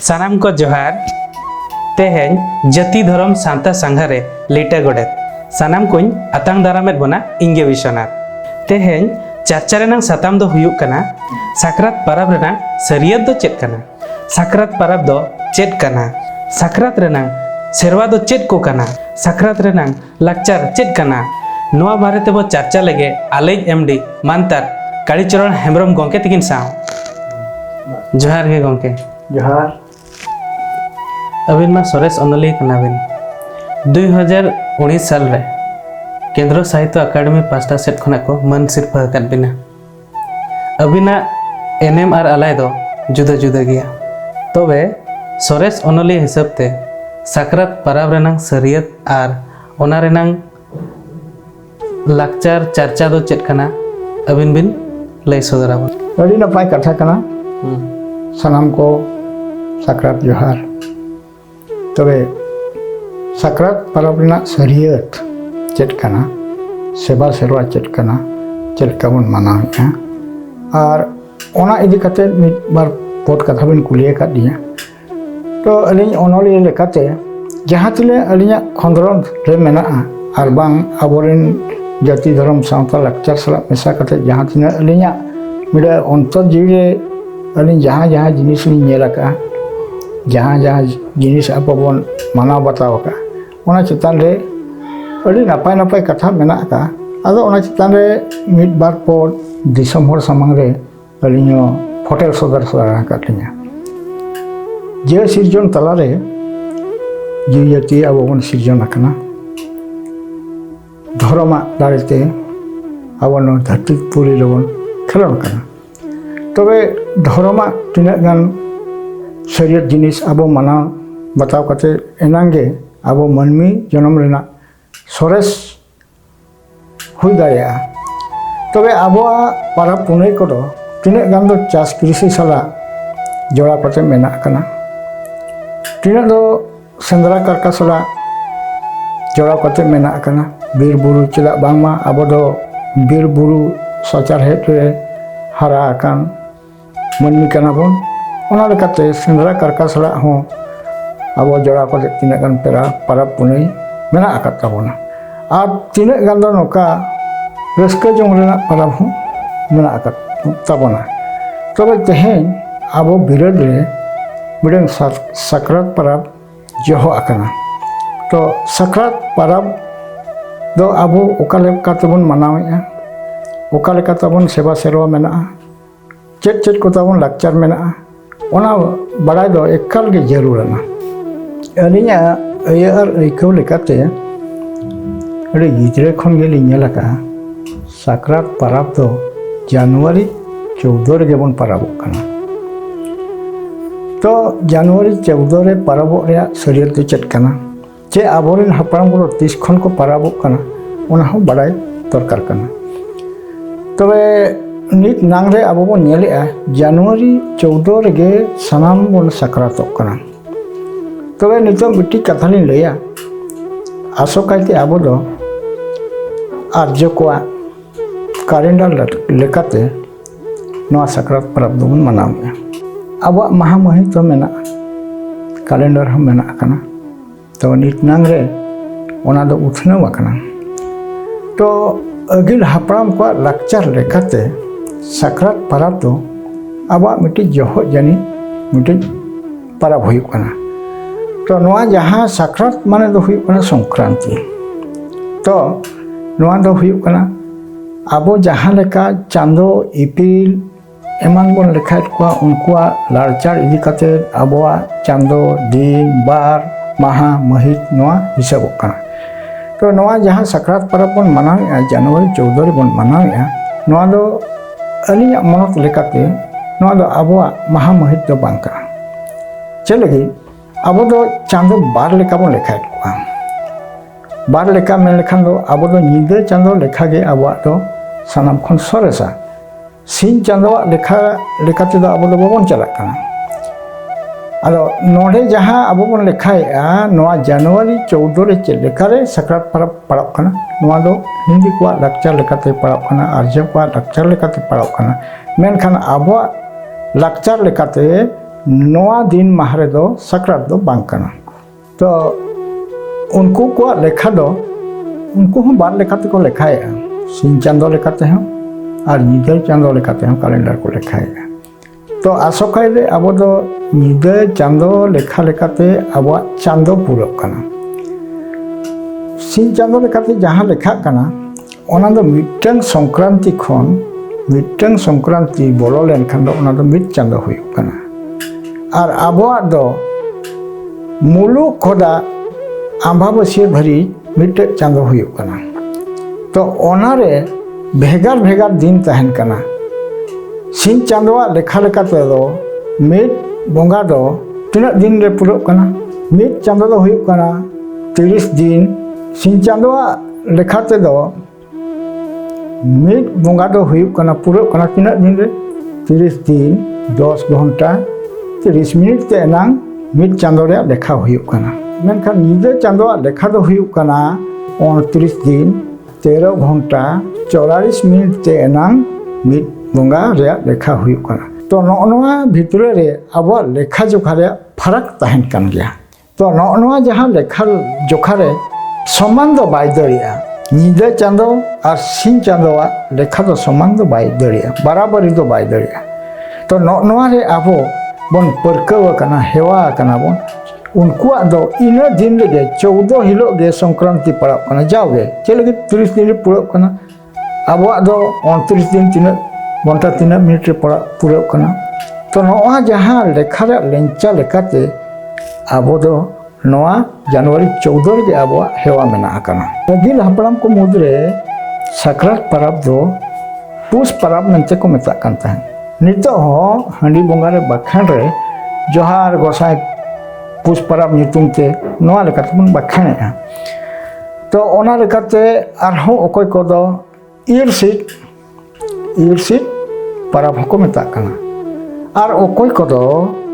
ᱥᱟᱱᱟᱢ ᱠᱚ ᱡᱚᱦᱟᱨ ᱛᱮᱦᱮᱧ ᱡᱟᱹᱛᱤ ᱫᱷᱚᱨᱚᱢ ᱥᱟᱶᱛᱟ ᱥᱟᱸᱜᱷᱟ ᱨᱮ ᱞᱤᱴᱟ ᱜᱚᱰᱮᱛ ᱥᱟᱱᱟᱢ ᱠᱚᱧ ᱟᱛᱟᱝ ᱫᱟᱨᱟᱢᱮᱫ ᱵᱚᱱᱟ ᱤᱧᱜᱮ ᱵᱤᱥᱣᱟᱱᱟᱛᱷ ᱛᱮᱦᱮᱧ ᱪᱟᱨᱪᱟ ᱨᱮᱱᱟᱜ ᱥᱟᱛᱟᱢ ᱫᱚ ᱦᱩᱭᱩᱜ ᱠᱟᱱᱟ ᱥᱟᱠᱨᱟᱛ ᱯᱟᱨᱟᱵᱽ ᱨᱮᱱᱟᱜ ᱥᱟᱹᱨᱤᱭᱟᱹᱛ ᱫᱚ ᱪᱮᱫ ᱠᱟᱱᱟ ᱥᱟᱠᱨᱟᱛ ᱯᱟᱨᱟᱵᱽ ᱫᱚ ᱪᱮᱫ ᱠᱟᱱᱟ ᱥᱟᱠᱨᱟᱛ ᱨᱮᱱᱟᱜ ᱥᱮᱨᱣᱟ ᱫᱚ ᱪᱮᱫ ᱠᱚ ᱠᱟᱱᱟ ᱥᱟᱠᱨᱟᱛ ᱨᱮᱱᱟᱜ ᱞᱟᱠᱪᱟᱨ ᱪᱮᱫ ᱠᱟᱱᱟ ᱱᱚᱣᱟ ᱵᱟᱨᱮ ᱛᱮᱵᱚ ᱪᱟᱨᱪᱟ ᱞᱮᱜᱮ ᱟᱞᱮᱡ ᱮᱢᱰᱤ ᱢᱟᱱᱛᱟᱨ ᱠᱟᱲᱤᱪᱚᱨᱚᱱ ᱦᱮᱢᱵᱨᱚᱢ ᱜᱚᱢᱠᱮ ᱛᱤᱠᱤᱱ ᱥᱟᱶ ᱡᱚᱦᱟᱨ ᱜᱮ ᱜᱚᱢᱠᱮ ᱡᱚᱦᱟᱨ ᱟᱹᱵᱤᱱ ᱢᱟ ᱥᱚᱨᱮᱥ ᱚᱱᱚᱞᱤᱭᱟᱹ ᱠᱟᱱᱟᱵᱤᱱ ᱫᱩᱭ ᱦᱟᱡᱟᱨ ᱩᱱᱤᱥ ᱥᱟᱞ ᱨᱮ ᱠᱮᱱᱫᱨᱚ ᱥᱟᱦᱤᱛᱭᱚ ᱟᱠᱟᱰᱮᱢᱤ ᱯᱟᱥᱴᱟ ᱥᱮᱫ ᱠᱷᱚᱱᱟᱜ ᱠᱚ ᱢᱟᱹᱱ ᱥᱤᱨᱯᱷᱟᱹ ᱟᱠᱟᱫ ᱵᱤᱱᱟ ᱟᱹᱵᱤᱱᱟᱜ ᱮᱱᱮᱢ ᱟᱨ ᱟᱞᱟᱭ ᱫᱚ ᱡᱩᱫᱟᱹ ᱡᱩᱫᱟᱹ ᱜᱮᱭᱟ ᱛᱚᱵᱮ ᱥᱚᱨᱮᱥ ᱚᱱᱚᱞᱤᱭᱟᱹ ᱦᱤᱥᱟᱹᱵ ᱛᱮ ᱥᱟᱠᱨᱟᱛ ᱯᱟᱨᱟᱵᱽ ᱨᱮᱱᱟᱝ ᱥᱟᱹᱨᱤᱭᱟᱹᱛ ᱟᱨ ᱚᱱᱟ ᱨᱮᱱᱟᱝ ᱞᱟᱠᱪᱟᱨ ᱪᱟᱨᱪᱟ ᱫᱚ ᱪᱮᱫ ᱠᱟᱱᱟ ᱟᱹᱵᱤᱱ ᱵᱤᱱ ᱞᱟᱹᱭ ᱥᱚᱫᱚᱨᱟ ᱵᱚᱱ ᱟᱹᱰᱤ ᱱᱟᱯᱟᱭ ᱠᱟᱛᱷᱟ ᱠᱟᱱᱟ ᱥᱟᱱᱟᱢ ᱠᱚ ᱥᱟᱠᱨᱟᱛ ᱡᱚᱦᱟᱨ ᱛᱚᱵᱮ ᱥᱟᱠᱨᱟᱛ ᱯᱚᱨᱚᱵᱽ ᱨᱮᱱᱟᱜ ᱥᱟᱹᱨᱤᱭᱟᱹᱛ ᱪᱮᱫ ᱠᱟᱱᱟ ᱥᱮᱵᱟ ᱥᱮᱨᱣᱟ ᱪᱮᱫ ᱠᱟᱱᱟ ᱪᱮᱫ ᱞᱮᱠᱟ ᱵᱚᱱ ᱢᱟᱱᱟᱣᱮᱫᱼᱟ ᱟᱨ ᱚᱱᱟ ᱤᱫᱤ ᱠᱟᱛᱮ ᱢᱤᱫ ᱵᱟᱨ ᱯᱚᱫ ᱠᱟᱛᱷᱟ ᱵᱮᱱ ᱠᱩᱞᱤ ᱟᱠᱟᱫ ᱞᱤᱧᱟ ᱛᱚ ᱟᱹᱞᱤᱧ ᱚᱱᱚᱞᱤᱭᱟᱹ ᱞᱮᱠᱟᱛᱮ ᱡᱟᱦᱟᱸ ᱛᱤᱱᱟᱹᱜ ᱟᱹᱞᱤᱧᱟᱜ ᱠᱷᱚᱸᱫᱽᱨᱚᱱ ᱨᱮ ᱢᱮᱱᱟᱜᱼᱟ ᱟᱨ ᱵᱟᱝ ᱟᱵᱚᱨᱮᱱ ᱡᱟᱹᱛᱤ ᱫᱷᱚᱨᱚᱢ ᱥᱟᱶᱛᱟ ᱞᱟᱠᱪᱟᱨ ᱥᱟᱞᱟᱜ ᱢᱮᱥᱟ ᱠᱟᱛᱮ ᱡᱟᱦᱟᱸ ᱛᱤᱱᱟᱹᱜ ᱟᱹᱞᱤᱧᱟᱜ ᱢᱤᱫᱴᱟᱹ ᱚᱱᱛᱚᱨ ᱡᱤᱣᱤ ᱨᱮ ᱟᱹᱞᱤᱧ ᱡᱟᱦᱟᱸ ᱡᱟᱦᱟᱸ ᱡᱤᱱᱤᱥ ᱞᱤᱧ ᱧᱮᱞ ᱟᱠᱟᱫᱼᱟ ᱡᱟᱦᱟᱸ ᱡᱟᱦᱟᱸ ᱡᱤᱱᱤᱥ ᱟᱵᱚ ᱵᱚᱱ ᱢᱟᱱᱟᱣ ᱵᱟᱛᱟᱣ ᱟᱠᱟᱫᱼᱟ ᱚᱱᱟ ᱪᱮᱛᱟᱱ ᱨᱮ ᱟᱹᱰᱤ ᱱᱟᱯᱟᱭ ᱱᱟᱯᱟᱭ ᱠᱟᱛᱷᱟ ᱢᱮᱱᱟᱜ ᱟᱠᱟᱫᱼᱟ ᱟᱫᱚ ᱚᱱᱟ ᱪᱮᱛᱟᱱ ᱨᱮ ᱢᱤᱫ ᱵᱟᱨ ᱯᱚᱫ ᱫᱤᱥᱚᱢ ᱦᱚᱲ ᱥᱟᱢᱟᱝ ᱨᱮ ᱟᱹᱞᱤᱧ ᱦᱚᱸ ᱯᱷᱚᱴᱮᱞ ᱥᱚᱫᱚᱨ ᱥᱚᱫᱚᱨ ᱟᱠᱟᱫ ᱞᱤᱧᱟ ᱡᱮ ᱥᱤᱨᱡᱚᱱ ᱛᱟᱞᱟᱨᱮ ᱡᱤᱣᱤ ᱡᱟᱹᱛᱤ ᱟᱵᱚ ᱵᱚᱱ ᱥᱤᱨᱡᱚᱱ ᱟᱠᱟᱱᱟ ᱫᱷᱚᱨᱚᱢᱟᱜ ᱫᱟᱲᱮᱛᱮ ᱟᱵᱚ ᱱᱚᱣᱟ ᱫᱷᱟᱹᱨᱛᱤ ᱯᱩᱨᱤ ᱨᱮᱵᱚᱱ ᱠᱷᱮᱞᱳᱰ ᱠᱟᱱᱟ ᱛᱚᱵᱮ ᱫᱷᱚᱨᱚᱢᱟᱜ ᱛᱤᱱᱟᱹᱜ ᱜᱟᱱ ᱥᱟᱹᱨᱤᱭᱟᱹᱛ ᱡᱤᱱᱤᱥ ᱟᱵᱚ ᱢᱟᱱᱟᱣ ᱵᱟᱛᱟᱣ ᱠᱟᱛᱮ ᱮᱱᱟᱝ ᱜᱮ ᱟᱵᱚ ᱢᱟᱹᱱᱢᱤ ᱡᱚᱱᱚᱢ ᱨᱮᱱᱟᱜ ᱥᱚᱨᱮᱥ ᱦᱩᱭ ᱫᱟᱲᱮᱭᱟᱜᱼᱟ ᱛᱚᱵᱮ ᱟᱵᱚᱣᱟᱜ ᱯᱟᱨᱟᱵᱽ ᱯᱩᱱᱟᱹᱭ ᱠᱚᱫᱚ ᱛᱤᱱᱟᱹᱜ ᱜᱟᱱ ᱫᱚ ᱪᱟᱥ ᱠᱨᱤᱥᱤ ᱥᱟᱞᱟᱜ ᱡᱚᱲᱟᱣ ᱠᱟᱛᱮ ᱢᱮᱱᱟᱜ ᱠᱟᱱᱟ ᱛᱤᱱᱟᱹᱜ ᱫᱚ ᱥᱮᱸᱫᱽᱨᱟ ᱠᱟᱨᱠᱟ ᱥᱟᱞᱟᱜ ᱡᱚᱲᱟᱣ ᱠᱟᱛᱮ ᱢᱮᱱᱟᱜ ᱟᱠᱟᱱᱟ ᱵᱤᱨ ᱵᱩᱨᱩ ᱪᱮᱫᱟᱜ ᱵᱟᱝᱢᱟ ᱟᱵᱚ ᱫᱚ ᱵᱤᱨ ᱵᱩᱨᱩ ᱥᱟᱪᱟᱨᱦᱮᱫ ᱨᱮ ᱦᱟᱨᱟ ᱟᱠᱟᱱ ᱢᱟᱹᱱᱢᱤ ᱠᱟᱱᱟ ᱵᱚᱱ ᱚᱱᱟ ᱞᱮᱠᱟᱛᱮ ᱥᱮᱸᱫᱽᱨᱟ ᱠᱟᱨᱠᱟ ᱥᱟᱞᱟᱜ ᱦᱚᱸ ᱟᱵᱚ ᱡᱚᱲᱟᱣ ᱠᱟᱛᱮ ᱛᱤᱱᱟᱹᱜ ᱜᱟᱱ ᱯᱮᱲᱟ ᱯᱟᱨᱟᱵᱽ ᱯᱩᱱᱟᱹᱭ ᱢᱮᱱᱟᱜ ᱟᱠᱟᱫ ᱛᱟᱵᱚᱱᱟ ᱟᱨ ᱛᱤᱱᱟᱹᱜ ᱜᱟᱱ ᱫᱚ ᱱᱚᱝᱠᱟ ᱨᱟᱹᱥᱠᱟᱹ ᱡᱚᱝ ᱨᱮᱱᱟᱜ ᱯᱟᱨᱟᱵᱽ ᱦᱚᱸ ᱢᱮᱱᱟᱜ ᱟᱠᱟᱫ ᱛᱟᱵᱚᱱᱟ ᱛᱚᱵᱮ ᱛᱮᱦᱮᱧ ᱟᱵᱚ ᱵᱤᱨᱟᱹᱫ ᱨᱮ ᱢᱤᱫᱴᱟᱝ ᱥᱟᱠᱨᱟᱛ ᱯᱟᱨᱟᱵᱽ ᱡᱚᱦᱚᱜ ᱟᱠᱟᱱᱟ ᱛᱚ ᱥᱟᱠᱨᱟᱛ ᱯᱟᱨᱟᱵᱽ ᱫᱚ ᱟᱵᱚ ᱚᱠᱟ ᱞᱮᱠᱟ ᱛᱮᱵᱚᱱ ᱢᱟᱱᱟᱣᱮᱫᱼᱟ ᱚᱠᱟ ᱞᱮᱠᱟ ᱛᱟᱵᱚᱱ ᱥᱮᱵᱟ ᱥᱮᱨᱣᱟ ᱢᱮᱱᱟᱜᱼᱟ ᱪᱮᱫ ᱪᱮᱫ ᱠᱚ ᱛᱟᱵᱚᱱ ᱞᱟᱠᱪᱟᱨ ᱢᱮᱱᱟᱜᱼᱟ ᱚᱱᱟ ᱵᱟᱲᱟᱭ ᱫᱚ ᱮᱠᱟᱞ ᱜᱮ ᱡᱟᱹᱨᱩᱲ ᱟᱱᱟ ᱟᱹᱞᱤᱧᱟᱜ ᱟᱹᱭᱟᱹ ᱟᱨ ᱟᱹᱭᱠᱟᱹᱣ ᱞᱮᱠᱟᱛᱮ ᱟᱹᱰᱤ ᱜᱤᱫᱽᱨᱟᱹ ᱠᱷᱚᱱ ᱜᱮᱞᱤᱧ ᱧᱮᱞ ᱟᱠᱟᱜᱼᱟ ᱥᱟᱠᱨᱟᱛ ᱯᱟᱨᱟᱵᱽ ᱫᱚ ᱡᱟᱱᱩᱣᱟᱨᱤ ᱪᱳᱫᱽᱫᱳ ᱨᱮᱜᱮ ᱵᱚᱱ ᱯᱟᱨᱟᱵᱚᱜ ᱠᱟᱱᱟ ᱛᱚ ᱡᱟᱱᱩᱣᱟᱨᱤ ᱪᱳᱫᱽᱫᱳ ᱨᱮ ᱯᱟᱨᱟᱵᱚᱜ ᱨᱮᱭᱟᱜ ᱥᱟᱹᱨᱭᱟᱹᱛ ᱫᱚ ᱪᱮᱫ ᱠᱟᱱᱟ ᱪᱮ ᱟᱵᱚᱨᱮᱱ ᱦᱟᱯᱲᱟᱢ ᱠᱚ ᱛᱤᱥ ᱠᱷᱚᱱ ᱠᱚ ᱯᱟᱨᱟᱵᱚᱜ ᱠᱟᱱᱟ ᱚᱱᱟ ᱦᱚᱸ ᱵᱟᱰᱟᱭ ᱫᱚᱨᱠᱟᱨ ᱠᱟᱱᱟ ᱛᱚᱵᱮ ᱱᱤᱛ ᱱᱟᱝ ᱨᱮ ᱟᱵᱚ ᱵᱚᱱ ᱧᱮᱞᱮᱜᱼᱟ ᱡᱟᱱᱩᱣᱟᱨᱤ ᱪᱳᱫᱽᱫᱳ ᱨᱮᱜᱮ ᱥᱟᱱᱟᱢ ᱵᱚᱱ ᱥᱟᱠᱨᱟᱛᱚᱜ ᱠᱟᱱᱟ ᱛᱚᱵᱮ ᱱᱤᱛᱚᱜ ᱢᱤᱫᱴᱤᱡ ᱠᱟᱛᱷᱟ ᱞᱤᱧ ᱞᱟᱹᱭᱟ ᱟᱥᱚᱠᱟᱭᱛᱮ ᱟᱵᱚ ᱫᱚ ᱟᱨᱡᱚ ᱠᱚᱣᱟᱜ ᱠᱟᱨᱮᱱᱰᱟᱨ ᱞᱮᱠᱟᱛᱮ ᱱᱚᱣᱟ ᱥᱟᱠᱨᱟᱛ ᱯᱚᱨᱚᱵᱽ ᱫᱚᱵᱚᱱ ᱢᱟᱱᱟᱣᱮᱫᱼᱟ ᱟᱵᱚᱣᱟᱜ ᱢᱟᱦᱟ ᱢᱟᱹᱦᱤᱛ ᱦᱚᱸ ᱢᱮᱱᱟᱜᱼᱟ ᱠᱟᱞᱮᱱᱰᱟᱨ ᱦᱚᱸ ᱢᱮᱱᱟᱜ ᱟᱠᱟᱱᱟ ᱛᱚ ᱱᱤᱛ ᱱᱟᱝ ᱨᱮ ᱚᱱᱟ ᱫᱚ ᱩᱛᱱᱟᱹᱣ ᱟᱠᱟᱱᱟ ᱛᱚ ᱟᱹᱜᱤᱞ ᱦᱟᱯᱲᱟᱢ ᱠᱚᱣᱟᱜ ᱞᱟᱠᱪᱟᱨ ᱞᱮᱠᱟᱛᱮ ᱥᱟᱠᱨᱟᱛ ᱯᱚᱨᱚᱵᱽ ᱫᱚ ᱟᱵᱚᱣᱟᱜ ᱢᱤᱫᱴᱤᱡ ᱡᱚᱦᱚᱜ ᱡᱟᱹᱱᱤ ᱢᱤᱫᱴᱤᱡ ᱯᱚᱨᱚᱵᱽ ᱦᱩᱭᱩᱜ ᱠᱟᱱᱟ ᱛᱚ ᱱᱚᱣᱟ ᱡᱟᱦᱟᱸ ᱥᱟᱠᱨᱟᱛ ᱢᱟᱱᱮ ᱫᱚ ᱦᱩᱭᱩᱜ ᱠᱟᱱᱟ ᱥᱚᱝᱠᱨᱟᱱᱛᱤ ᱛᱚ ᱱᱚᱣᱟ ᱫᱚ ᱦᱩᱭᱩᱜ ᱠᱟᱱᱟ ᱟᱵᱚ ᱡᱟᱦᱟᱸ ᱞᱮᱠᱟ ᱪᱟᱸᱫᱚ ᱤᱯᱤᱞ ᱮᱢᱟᱱ ᱵᱚᱱ ᱞᱮᱠᱷᱟᱭᱮᱫ ᱠᱚᱣᱟ ᱩᱱᱠᱩᱣᱟᱜ ᱞᱟᱲᱪᱟᱲ ᱤᱫᱤ ᱠᱟᱛᱮ ᱟᱵᱚᱣᱟᱜ ᱪᱟᱸᱫᱚ ᱫᱤᱱ ᱵᱟᱨ ᱢᱟᱦᱟ ᱢᱟᱹᱦᱤᱛ ᱱᱚᱣᱟ ᱦᱤᱥᱟᱹᱵᱚᱜ ᱠᱟᱱᱟ ᱛᱚ ᱱᱚᱣᱟ ᱡᱟᱦᱟᱸ ᱥᱟᱠᱨᱟᱛ ᱯᱚᱨᱚᱵᱽ ᱵᱚᱱ ᱢᱟᱱᱟᱣᱮᱫᱼᱟ ᱡᱟᱱᱩᱣᱟᱨᱤ ᱪᱳᱫᱽᱫᱚ ᱨᱮᱵᱚᱱ ᱢᱟᱱᱟᱣᱮᱫᱼᱟ ᱱᱚᱣᱟ ᱫᱚ ᱟᱹᱞᱤᱧᱟᱜ ᱢᱚᱱᱚᱛ ᱞᱮᱠᱟᱛᱮ ᱱᱚᱣᱟ ᱫᱚ ᱟᱵᱚᱣᱟᱜ ᱢᱟᱦᱟ ᱢᱟᱹᱦᱤᱛ ᱫᱚ ᱵᱟᱝ ᱠᱟᱱᱟ ᱪᱮᱫ ᱞᱟᱹᱜᱤᱫ ᱟᱵᱚ ᱫᱚ ᱪᱟᱸᱫᱚ ᱵᱟᱨ ᱞᱮᱠᱟ ᱵᱚᱱ ᱞᱮᱠᱷᱟᱭᱮᱫ ᱠᱚᱣᱟ ᱵᱟᱨ ᱞᱮᱠᱟ ᱢᱮᱱ ᱞᱮᱠᱷᱟᱱ ᱫᱚ ᱟᱵᱚ ᱫᱚ ᱧᱤᱫᱟᱹ ᱪᱟᱸᱫᱚ ᱞᱮᱠᱷᱟ ᱜᱮ ᱟᱵᱚᱣᱟᱜ ᱫᱚ ᱥᱟᱱᱟᱢ ᱠᱷᱚᱱ ᱥᱚᱨᱮᱥᱟ ᱥᱤᱧ ᱪᱟᱸᱫᱚᱣᱟᱜ ᱞᱮᱠᱷᱟ ᱞᱮᱠᱟ ᱛᱮᱫᱚ ᱟᱵᱚ ᱫᱚ ᱵᱟᱵᱚᱱ ᱪᱟᱞᱟᱜ ᱠᱟᱱᱟ ᱟᱫᱚ ᱱᱚᱰᱮ ᱡᱟᱦᱟᱸ ᱟᱵᱚ ᱵᱚᱱ ᱞᱮᱠᱷᱟᱭᱮᱫᱼᱟ ᱱᱚᱣᱟ ᱡᱟᱱᱩᱣᱟᱨᱤ ᱪᱳᱫᱽᱫᱳ ᱨᱮ ᱪᱮᱫ ᱞᱮᱠᱟᱨᱮ ᱥᱟᱠᱨᱟᱛ ᱯᱚᱨᱚᱵᱽ ᱯᱟᱲᱟᱜ ᱠᱟᱱᱟ ᱱᱚᱣᱟ ᱫᱚ ᱦᱤᱱᱫᱤ ᱠᱚᱣᱟᱜ ᱞᱟᱠᱪᱟᱨ ᱞᱮᱠᱟᱛᱮ ᱯᱟᱲᱟᱜ ᱠᱟᱱᱟ ᱟᱨᱡᱚ ᱠᱚᱣᱟᱜ ᱞᱟᱠᱪᱟᱨ ᱞᱮᱠᱟᱛᱮ ᱯᱟᱲᱟᱜ ᱠᱟᱱᱟ ᱢᱮᱱᱠᱷᱟᱱ ᱟᱵᱚᱣᱟᱜ ᱞᱟᱠᱪᱟᱨ ᱞᱮᱠᱟᱛᱮ ᱱᱚᱣᱟ ᱫᱤᱱ ᱢᱟᱦᱟ ᱨᱮᱫᱚ ᱥᱟᱠᱨᱟᱛ ᱫᱚ ᱵᱟᱝ ᱠᱟᱱᱟ ᱛᱚ ᱩᱱᱠᱩ ᱠᱚᱣᱟᱜ ᱞᱮᱠᱷᱟ ᱫᱚ ᱩᱱᱠᱩ ᱦᱚᱸ ᱵᱟᱨ ᱞᱮᱠᱟ ᱛᱮᱠᱚ ᱞᱮᱠᱷᱟᱭᱮᱜᱼᱟ ᱥᱤᱧ ᱪᱟᱸᱫᱚ ᱞᱮᱠᱟ ᱛᱮᱦᱚᱸ ᱟᱨ ᱧᱤᱫᱟᱹ ᱪᱟᱸᱫᱚ ᱞᱮᱠᱟ ᱛᱮᱦᱚᱸ ᱠᱟᱞᱮᱱᱰᱟᱨ ᱠᱚ ᱞᱮᱠᱷᱟᱭᱮᱜᱼᱟ ᱛᱚ ᱟᱥᱚᱠᱟᱭ ᱨᱮ ᱟᱵᱚ ᱫᱚ ᱧᱤᱫᱟᱹ ᱪᱟᱸᱫᱚ ᱞᱮᱠᱷᱟ ᱞᱮᱠᱟᱛᱮ ᱟᱵᱚᱣᱟᱜ ᱪᱟᱸᱫᱚ ᱯᱩᱨᱟᱹᱜ ᱠᱟᱱᱟ ᱥᱤᱧ ᱪᱟᱸᱫᱚ ᱞᱮᱠᱟᱛᱮ ᱡᱟᱦᱟᱸ ᱞᱮᱠᱷᱟᱜ ᱠᱟᱱᱟ ᱚᱱᱟ ᱫᱚ ᱢᱤᱫᱴᱟᱝ ᱥᱚᱝᱠᱨᱟᱱᱛᱤ ᱠᱷᱚᱱ ᱢᱤᱫᱴᱟᱝ ᱥᱚᱝᱠᱨᱟᱱᱛᱤ ᱵᱚᱞᱚ ᱞᱮᱱᱠᱷᱟᱱ ᱫᱚ ᱚᱱᱟ ᱫᱚ ᱢᱤᱫ ᱪᱟᱸᱫᱚ ᱦᱩᱭᱩᱜ ᱠᱟᱱᱟ ᱟᱨ ᱟᱵᱚᱣᱟᱜ ᱫᱚ ᱢᱩᱞᱩᱜ ᱠᱷᱚᱫᱟ ᱟᱢᱵᱟᱵᱟᱹᱥᱭᱟᱹ ᱵᱷᱟᱹᱨᱤᱡ ᱢᱤᱫᱴᱮᱡ ᱪᱟᱸᱫᱚ ᱦᱩᱭᱩᱜ ᱠᱟᱱᱟ ᱛᱚ ᱚᱱᱟᱨᱮ ᱵᱷᱮᱜᱟᱨ ᱵᱷᱮᱜᱟᱨ ᱫᱤᱱ ᱛᱟᱦᱮᱱ ᱠᱟᱱᱟ ᱥᱤᱧ ᱪᱟᱸᱫᱚᱣᱟᱜ ᱞᱮᱠᱷᱟ ᱞᱮᱠᱟ ᱛᱮᱫᱚ ᱢᱤᱫ ᱵᱚᱸᱜᱟ ᱫᱚ ᱛᱤᱱᱟᱹᱜ ᱫᱤᱱ ᱨᱮ ᱯᱩᱨᱟᱹᱜ ᱠᱟᱱᱟ ᱢᱤᱫ ᱪᱟᱸᱫᱚ ᱫᱚ ᱦᱩᱭᱩᱜ ᱠᱟᱱᱟ ᱛᱤᱨᱤᱥ ᱫᱤᱱ ᱥᱤᱧ ᱪᱟᱸᱫᱚᱣᱟᱜ ᱞᱮᱠᱷᱟ ᱛᱮᱫᱚ ᱢᱤᱫ ᱵᱚᱸᱜᱟ ᱫᱚ ᱦᱩᱭᱩᱜ ᱠᱟᱱᱟ ᱯᱩᱨᱟᱹᱜ ᱠᱟᱱᱟ ᱛᱤᱱᱟᱹᱜ ᱫᱤᱱ ᱨᱮ ᱛᱤᱨᱤᱥ ᱫᱤᱱ ᱫᱚᱥ ᱜᱷᱚᱱᱴᱟ ᱛᱤᱨᱤᱥ ᱢᱤᱱᱤᱴ ᱛᱮ ᱮᱱᱟᱝ ᱢᱤᱫ ᱪᱟᱸᱫᱳ ᱨᱮᱭᱟᱜ ᱞᱮᱠᱷᱟ ᱦᱩᱭᱩᱜ ᱠᱟᱱᱟ ᱢᱮᱱᱠᱷᱟᱱ ᱧᱤᱫᱟᱹ ᱪᱟᱸᱫᱳᱣᱟᱜ ᱞᱮᱠᱷᱟ ᱫᱚ ᱦᱩᱭᱩᱜ ᱠᱟᱱᱟ ᱩᱱᱛᱨᱤᱥ ᱫᱤᱱ ᱛᱮᱨᱚ ᱜᱷᱚᱱᱴᱟ ᱪᱚᱞᱟᱨᱤᱥ ᱢᱤᱱᱤᱴ ᱛᱮ ᱮᱱᱟᱝ ᱢᱤᱫ ᱵᱚᱸᱜᱟ ᱨᱮᱭᱟᱜ ᱞᱮᱠᱷᱟ ᱦᱩᱭᱩᱜ ᱠᱟᱱᱟ ᱛᱚ ᱱᱚᱜᱼᱚ ᱱᱚᱣᱟ ᱵᱷᱤᱛᱨᱤ ᱨᱮ ᱟᱵᱚᱣᱟᱜ ᱞᱮᱠᱷᱟ ᱡᱚᱠᱷᱟ ᱨᱮᱭᱟᱜ ᱯᱷᱟᱨᱟᱠ ᱛᱟᱦᱮᱱ ᱠᱟᱱ ᱜᱮᱭᱟ ᱛᱚ ᱱᱚᱜᱼᱚ ᱱᱚᱣᱟ ᱡᱟᱦᱟᱸ ᱞᱮᱠᱷᱟ ᱡᱚᱠᱷᱟ ᱨᱮ ᱥᱚᱢᱟᱱ ᱫᱚ ᱵᱟᱭ ᱫᱟᱲᱮᱭᱟᱜᱼᱟ ᱧᱤᱫᱟᱹ ᱪᱟᱸᱫᱚ ᱟᱨ ᱥᱤᱧ ᱪᱟᱸᱫᱚᱣᱟᱜ ᱞᱮᱠᱷᱟ ᱫᱚ ᱥᱚᱢᱟᱱ ᱫᱚ ᱵᱟᱭ ᱫᱟᱲᱮᱭᱟᱜᱼᱟ ᱵᱟᱨᱟᱵᱟᱨᱤ ᱫᱚ ᱵᱟᱭ ᱫᱟᱲᱮᱭᱟᱜᱼᱟ ᱛᱚ ᱱᱚᱜᱼᱚ ᱱᱚᱣᱟ ᱨᱮ ᱟᱵᱚ ᱵᱚᱱ ᱯᱟᱹᱨᱠᱟᱹᱣ ᱟᱠᱟᱱᱟ ᱦᱮᱣᱟ ᱟᱠᱟᱱᱟ ᱵᱚᱱ ᱩᱱᱠᱩᱣᱟᱜ ᱫᱚ ᱤᱱᱟᱹ ᱫᱤᱱ ᱨᱮᱜᱮ ᱪᱳᱣᱫᱚ ᱦᱤᱞᱳᱜ ᱜᱮ ᱥᱚᱝᱠᱨᱟᱱᱛᱤ ᱯᱟᱲᱟᱜ ᱠᱟᱱᱟ ᱡᱟᱣᱜᱮ ᱪᱮᱫ ᱞᱟᱹᱜᱤᱫ ᱛᱤᱨᱤᱥ ᱫᱤᱱ ᱨᱮ ᱯᱩᱨᱟᱹᱜ ᱠᱟᱱᱟ ᱟᱵᱚᱣᱟᱜ ᱫᱚ ᱩᱱᱛᱨᱤᱥ ᱫᱤᱱ ᱛᱤᱱᱟᱹᱜ ᱜᱷᱚᱱᱴᱟ ᱛᱤᱱᱟᱹᱜ ᱢᱤᱱᱤᱴ ᱨᱮ ᱯᱟᱲᱟᱜ ᱯᱩᱨᱟᱹᱜ ᱠᱟᱱᱟ ᱛᱚ ᱱᱚᱣᱟ ᱡᱟᱦᱟᱸ ᱞᱮᱠᱷᱟ ᱨᱮᱭᱟᱜ ᱞᱮᱝᱪᱟ ᱞᱮᱠᱟᱛᱮ ᱟᱵᱚ ᱫᱚ ᱱᱚᱣᱟ ᱡᱟᱱᱩᱣᱟᱨᱤ ᱪᱳᱫᱽᱫᱳ ᱨᱮᱜᱮ ᱟᱵᱚᱣᱟᱜ ᱦᱮᱣᱟ ᱢᱮᱱᱟᱜ ᱟᱠᱟᱱᱟ ᱯᱟᱹᱦᱤᱞ ᱦᱟᱯᱲᱟᱢ ᱠᱚ ᱢᱩᱫᱽᱨᱮ ᱥᱟᱠᱨᱟᱛ ᱯᱟᱨᱟᱵᱽ ᱫᱚ ᱯᱩᱥ ᱯᱟᱨᱟᱵᱽ ᱢᱮᱱᱛᱮ ᱠᱚ ᱢᱮᱛᱟᱜ ᱠᱟᱱ ᱛᱟᱦᱮᱸᱫ ᱱᱤᱛᱚᱜ ᱦᱚᱸ ᱦᱟᱺᱰᱤ ᱵᱚᱸᱜᱟ ᱨᱮ ᱵᱟᱠᱷᱟᱱ ᱨᱮ ᱡᱚᱦᱟᱨ ᱜᱚᱸᱥᱟᱭ ᱯᱩᱥ ᱯᱟᱨᱟᱵᱽ ᱧᱩᱛᱩᱢ ᱛᱮ ᱱᱚᱣᱟ ᱞᱮᱠᱟᱛᱮᱵᱚᱱ ᱵᱟᱠᱷᱟᱱᱮᱜᱼᱟ ᱛᱚ ᱚᱱᱟ ᱞᱮᱠᱟᱛᱮ ᱟᱨᱦᱚᱸ ᱚᱠᱚᱭ ᱠᱚᱫᱚ ᱤᱨᱥᱤᱫ ᱤᱨᱥᱤᱫ ᱯᱟᱨᱟᱵᱽ ᱦᱚᱸᱠᱚ ᱢᱮᱛᱟᱜ ᱠᱟᱱᱟ ᱟᱨ ᱚᱠᱚᱭ ᱠᱚᱫᱚ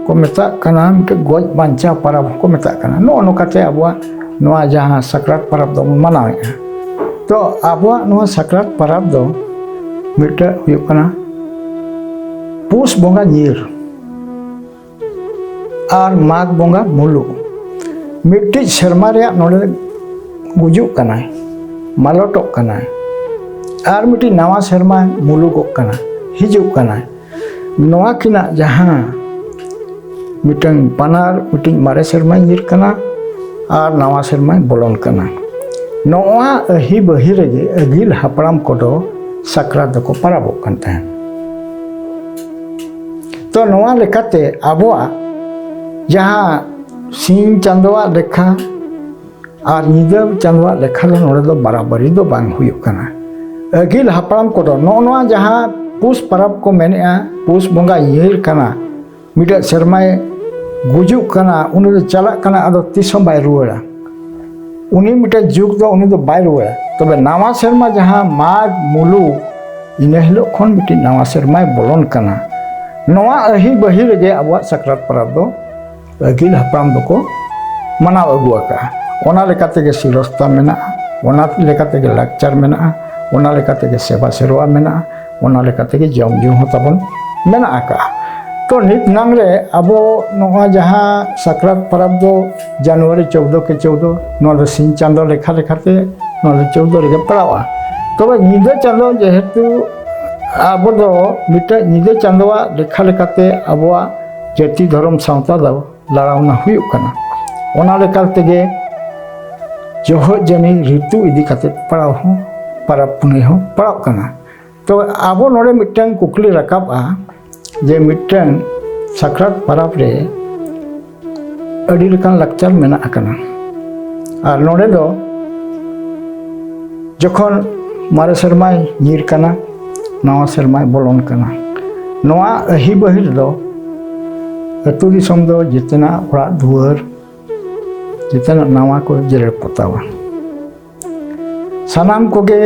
ᱠᱚ ᱢᱮᱛᱟᱜ ᱠᱟᱱᱟ ᱢᱤᱫᱴᱮᱱ ᱜᱚᱡ ᱵᱟᱧᱪᱟᱣ ᱯᱟᱨᱟᱵᱽ ᱦᱚᱸᱠᱚ ᱢᱮᱛᱟᱜ ᱠᱟᱱᱟ ᱱᱚᱜᱼᱚ ᱱᱚᱝᱠᱟᱛᱮ ᱟᱵᱚᱣᱟᱜ ᱱᱚᱣᱟ ᱡᱟᱦᱟᱸ ᱥᱟᱠᱨᱟᱛ ᱯᱟᱨᱟᱵᱽ ᱫᱚᱵᱚᱱ ᱢᱟᱱᱟᱣᱮᱫᱼᱟ ᱛᱚ ᱟᱵᱚᱣᱟᱜ ᱱᱚᱣᱟ ᱥᱟᱠᱨᱟᱛ ᱯᱟᱨᱟᱵᱽ ᱫᱚ ᱢᱤᱫᱴᱮᱱ ᱦᱩᱭᱩᱜ ᱠᱟᱱᱟ ᱯᱩᱥ ᱵᱚᱸᱜᱟ ᱧᱤᱨ ᱟᱨ ᱢᱟᱜᱽ ᱵᱚᱸᱜᱟ ᱢᱩᱞᱩᱜ ᱢᱤᱫᱴᱤᱡ ᱥᱮᱨᱢᱟ ᱨᱮᱭᱟᱜ ᱱᱚᱰᱮ ᱜᱩᱡᱩᱜ ᱠᱟᱱᱟᱭ ᱢᱟᱞᱚᱴᱚᱜ ᱠᱟᱱᱟᱭ ᱟᱨ ᱢᱤᱫᱴᱤᱡ ᱱᱟᱣᱟ ᱥᱮᱨᱢᱟ ᱢᱩᱞᱩᱜᱚᱜ ᱠᱟᱱᱟ ᱦᱤᱡᱩᱜ ᱠᱟᱱᱟᱭ ᱱᱚᱣᱟ ᱠᱤᱱᱟᱜ ᱡᱟᱦᱟᱸ ᱢᱤᱫᱴᱟᱝ ᱵᱟᱱᱟᱨ ᱢᱤᱫᱴᱤᱡ ᱢᱟᱨᱮ ᱥᱮᱨᱢᱟ ᱧᱤᱨ ᱠᱟᱱᱟ ᱟᱨ ᱱᱟᱣᱟ ᱥᱮᱨᱢᱟ ᱵᱚᱞᱚᱱ ᱠᱟᱱᱟ ᱱᱚᱣᱟ ᱟᱹᱦᱤ ᱵᱟᱹᱦᱤ ᱨᱮᱜᱮ ᱟᱹᱜᱤᱞ ᱦᱟᱯᱲᱟᱢ ᱠᱚᱫᱚ ᱥᱟᱠᱨᱟᱛ ᱫᱚᱠᱚ ᱯᱟᱨᱟᱵᱚᱜ ᱠᱟᱱ ᱛᱟᱦᱮᱸᱫ ᱛᱚ ᱱᱚᱣᱟ ᱞᱮᱠᱟᱛᱮ ᱟᱵᱚᱣᱟᱜ ᱡᱟᱦᱟᱸ ᱥᱤᱧ ᱪᱟᱸᱫᱳᱣᱟᱜ ᱞᱮᱠᱷᱟ ᱟᱨ ᱧᱤᱫᱟᱹ ᱪᱟᱸᱫᱳᱣᱟᱜ ᱞᱮᱠᱷᱟ ᱫᱚ ᱱᱚᱰᱮ ᱫᱚ ᱵᱟᱨᱟᱵᱟᱨᱤ ᱫᱚ ᱵᱟᱝ ᱦᱩᱭᱩᱜ ᱠᱟᱱᱟ ᱟᱹᱜᱤᱞ ᱦᱟᱯᱲᱟᱢ ᱠᱚᱫᱚ ᱱᱚᱜᱼᱚ ᱱᱚᱣᱟ ᱡᱟᱦᱟᱸ ᱯᱩᱥ ᱯᱟᱨᱟᱵᱽ ᱠᱚ ᱢᱮᱱᱮᱜᱼᱟ ᱯᱩᱥ ᱵᱚᱸᱜᱟ ᱤᱭᱟᱹᱭ ᱠᱟᱱᱟ ᱢᱤᱫᱴᱮᱡ ᱥᱮᱨᱢᱟᱭ ᱜᱩᱡᱩᱜ ᱠᱟᱱᱟ ᱩᱱᱤ ᱫᱚ ᱪᱟᱞᱟᱜ ᱠᱟᱱᱟ ᱟᱫᱚ ᱛᱤᱥ ᱦᱚᱸ ᱵᱟᱭ ᱨᱩᱣᱟᱹᱲᱟ ᱩᱱᱤ ᱢᱤᱫᱴᱮᱱ ᱡᱩᱜᱽ ᱫᱚ ᱩᱱᱤ ᱫᱚ ᱵᱟᱭ ᱨᱩᱣᱟᱹᱲᱟ ᱛᱚᱵᱮ ᱱᱟᱣᱟ ᱥᱮᱨᱢᱟ ᱡᱟᱦᱟᱸ ᱢᱟᱜᱽ ᱢᱩᱞᱩᱜ ᱤᱱᱟᱹ ᱦᱤᱞᱳᱜ ᱠᱷᱚᱱ ᱢᱤᱫᱴᱤᱡ ᱱᱟᱣᱟ ᱥᱮᱨᱢᱟᱭ ᱵᱚᱞᱚᱱ ᱠᱟᱱᱟ ᱱᱚᱣᱟ ᱟᱹᱦᱤ ᱵᱟᱹᱦᱤ ᱨᱮᱜᱮ ᱟᱵᱚᱣᱟᱜ ᱥᱟᱠᱨᱟᱛ ᱯᱚᱨᱚᱵᱽ ᱫᱚ ᱟᱹᱜᱤᱞ ᱦᱟᱯᱲᱟᱢ ᱫᱚᱠᱚ ᱢᱟᱱᱟᱣ ᱟᱹᱜᱩ ᱟᱠᱟᱜᱼᱟ ᱚᱱᱟ ᱞᱮᱠᱟ ᱛᱮᱜᱮ ᱥᱤᱨᱚᱥᱛᱟ ᱢᱮᱱᱟᱜᱼᱟ ᱚᱱᱟ ᱞᱮᱠᱟ ᱛᱮᱜᱮ ᱞᱟᱠᱪᱟᱨ ᱢᱮᱱᱟᱜᱼᱟ ᱚᱱᱟ ᱞᱮᱠᱟ ᱛᱮᱜᱮ ᱥᱮᱵᱟ ᱥᱮᱨᱣᱟ ᱢᱮᱱᱟᱜᱼᱟ ᱚᱱᱟ ᱞᱮᱠᱟ ᱛᱮᱜᱮ ᱡᱚᱢ ᱧᱩ ᱦᱚᱸ ᱛᱟᱵᱚᱱ ᱢᱮᱱᱟᱜ ᱟᱠᱟᱜᱼᱟ ᱛᱚ ᱱᱤᱛ ᱱᱟᱝ ᱨᱮ ᱟᱵᱚ ᱱᱚᱣᱟ ᱡᱟᱦᱟᱸ ᱥᱟᱠᱨᱟᱛ ᱯᱚᱨᱚᱵᱽ ᱫᱚ ᱡᱟᱱᱩᱣᱟᱨᱤ ᱪᱳᱫᱽᱫᱳ ᱠᱮ ᱪᱳᱫᱽᱫᱳ ᱱᱚᱣᱟ ᱫᱚ ᱥᱤᱧ ᱪᱟᱸᱫᱳ ᱞᱮᱠᱷᱟ ᱞᱮᱠᱟᱛᱮ ᱱᱚᱣᱟ ᱫᱚ ᱪᱳᱫᱽᱫᱳ ᱨᱮᱜᱮ ᱯᱟᱲᱟᱜᱼᱟ ᱛᱚᱵᱮ ᱧᱤᱫᱟᱹ ᱪᱟᱸᱫᱳ ᱡᱮᱦᱮᱛᱩ ᱟᱵᱚ ᱫᱚ ᱢᱤᱫᱴᱮᱡ ᱧᱤᱫᱟᱹ ᱪᱟᱸᱫᱳᱣᱟᱜ ᱞᱮᱠᱷᱟ ᱞᱮᱠᱟᱛᱮ ᱟᱵᱚᱣᱟᱜ ᱡᱟᱹᱛᱤ ᱫᱷᱚᱨᱚᱢ ᱥᱟᱶᱛᱟ ᱫᱚ ᱞᱟᱲᱟᱣᱱᱟ ᱦᱩᱭᱩᱜ ᱠᱟᱱᱟ ᱚᱱᱟ ᱞᱮᱠᱟ ᱛᱮᱜᱮ ᱡᱚᱦᱚᱜ ᱡᱟᱹᱱᱤ ᱨᱤᱛᱩ ᱤᱫᱤ ᱠᱟᱛᱮ ᱯᱟᱲᱟᱣ ᱦᱚᱸ ᱯᱟᱨᱟᱵᱽ ᱯᱩᱱᱟᱹᱭ ᱦᱚᱸ ᱯᱟᱲᱟᱜ ᱠᱟᱱᱟ ᱛᱚ ᱟᱵᱚ ᱱᱚᱰᱮ ᱢᱤᱫᱴᱟᱝ ᱠᱩᱠᱞᱤ ᱨᱟᱠᱟᱵᱼᱟ ᱡᱮ ᱢᱤᱫᱴᱟᱝ ᱥᱟᱠᱨᱟᱛ ᱯᱟᱨᱟᱵᱽ ᱨᱮ ᱟᱹᱰᱤ ᱞᱮᱠᱟᱱ ᱞᱟᱠᱪᱟᱨ ᱢᱮᱱᱟᱜ ᱟᱠᱟᱱᱟ ᱟᱨ ᱱᱚᱰᱮ ᱫᱚ ᱡᱚᱠᱷᱚᱱ ᱢᱟᱨᱮ ᱥᱮᱨᱢᱟᱭ ᱧᱤᱨ ᱠᱟᱱᱟ ᱱᱟᱣᱟ ᱥᱮᱨᱢᱟᱭ ᱵᱚᱞᱚᱱ ᱠᱟᱱᱟ ᱱᱚᱣᱟ ᱟᱹᱦᱤ ᱵᱟᱹᱦᱤ ᱨᱮᱫᱚ ᱟᱹᱛᱩ ᱫᱤᱥᱚᱢ ᱫᱚ ᱡᱮᱛᱮᱱᱟᱜ ᱚᱲᱟᱜ ᱫᱩᱣᱟᱹᱨ ᱡᱮᱛᱮᱱᱟᱜ ᱱᱟᱣᱟ ᱠᱚ ᱡᱮᱨᱮᱲ ᱯᱚᱛᱟᱣᱟ ᱥᱟᱱᱟᱢ ᱠᱚᱜᱮ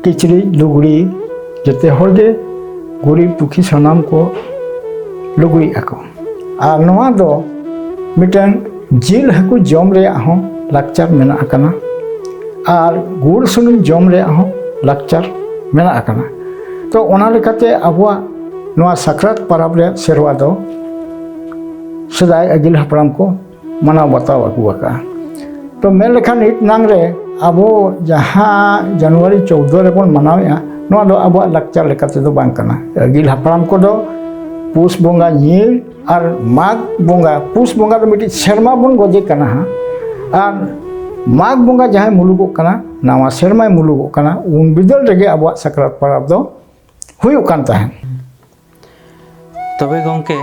ᱠᱤᱪᱨᱤᱡ ᱞᱩᱜᱽᱲᱤ ᱡᱮᱛᱮ ᱦᱚᱲᱜᱮ ᱜᱩᱨᱤᱡ ᱯᱩᱠᱷᱤ ᱥᱟᱱᱟᱢ ᱠᱚ ᱞᱩᱜᱽᱲᱤᱜ ᱟᱠᱚ ᱟᱨ ᱱᱚᱣᱟ ᱫᱚ ᱢᱤᱫᱴᱮᱱ ᱡᱤᱞ ᱦᱟᱹᱠᱩ ᱡᱚᱢ ᱨᱮᱭᱟᱜ ᱦᱚᱸ ᱞᱟᱠᱪᱟᱨ ᱢᱮᱱᱟᱜ ᱟᱠᱟᱱᱟ ᱟᱨ ᱜᱩᱲ ᱥᱩᱱᱩᱢ ᱡᱚᱢ ᱨᱮᱭᱟᱜ ᱦᱚᱸ ᱞᱟᱠᱪᱟᱨ ᱢᱮᱱᱟᱜ ᱟᱠᱟᱱᱟ ᱛᱚ ᱚᱱᱟ ᱞᱮᱠᱟᱛᱮ ᱟᱵᱚᱣᱟᱜ ᱱᱚᱣᱟ ᱥᱟᱠᱨᱟᱛ ᱯᱟᱨᱟᱵᱽ ᱨᱮᱭᱟᱜ ᱥᱮᱨᱣᱟ ᱫᱚ ᱥᱮᱫᱟᱭ ᱟᱹᱜᱤᱞ ᱦᱟᱯᱲᱟᱢ ᱠᱚ ᱢᱟᱱᱟᱣ ᱵᱟᱛᱟᱣ ᱟᱹᱜᱩ ᱟᱠᱟᱜᱼᱟ ᱛᱚ ᱢᱮᱱ ᱞᱮᱠᱷᱟᱱ ᱱᱤᱛ ᱱᱟᱝ ᱨᱮ ᱟᱵᱚ ᱡᱟᱦᱟᱸ ᱡᱟᱱᱩᱣᱟᱨᱤ ᱪᱳᱫᱽᱫᱳ ᱨᱮᱵᱚᱱ ᱢᱟᱱᱟᱣᱮᱜᱼᱟ ᱱᱚᱣᱟ ᱫᱚ ᱟᱵᱚᱣᱟᱜ ᱞᱟᱠᱪᱟᱨ ᱞᱮᱠᱟ ᱛᱮᱫᱚ ᱵᱟᱝ ᱠᱟᱱᱟ ᱟᱹᱜᱤᱞ ᱦᱟᱯᱲᱟᱢ ᱠᱚᱫᱚ ᱯᱩᱥ ᱵᱚᱸᱜᱟ ᱧᱤᱨ ᱟᱨ ᱢᱟᱜᱽ ᱵᱚᱸᱜᱟ ᱯᱩᱥ ᱵᱚᱸᱜᱟ ᱫᱚ ᱢᱤᱫᱴᱤᱡ ᱥᱮᱨᱢᱟ ᱵᱚᱱ ᱜᱚᱡᱮ ᱠᱟᱱᱟ ᱦᱟᱸᱜ ᱟᱨ ᱢᱟᱜᱽ ᱵᱚᱸᱜᱟ ᱡᱟᱦᱟᱸᱭ ᱢᱩᱞᱩᱜᱚᱜ ᱠᱟᱱᱟ ᱱᱟᱣᱟ ᱥᱮᱨᱢᱟᱭ ᱢᱩᱞᱩᱜᱚᱜ ᱠᱟᱱᱟ ᱩᱱ ᱵᱤᱫᱟᱹᱞ ᱨᱮᱜᱮ ᱟᱵᱚᱣᱟᱜ ᱥᱟᱠᱨᱟᱛ ᱯᱚᱨᱚᱵᱽ ᱫᱚ ᱦᱩᱭᱩᱜ ᱠᱟᱱ ᱛᱟᱦᱮᱸᱫ ᱛᱚᱵᱮ ᱜᱚᱝᱠᱮ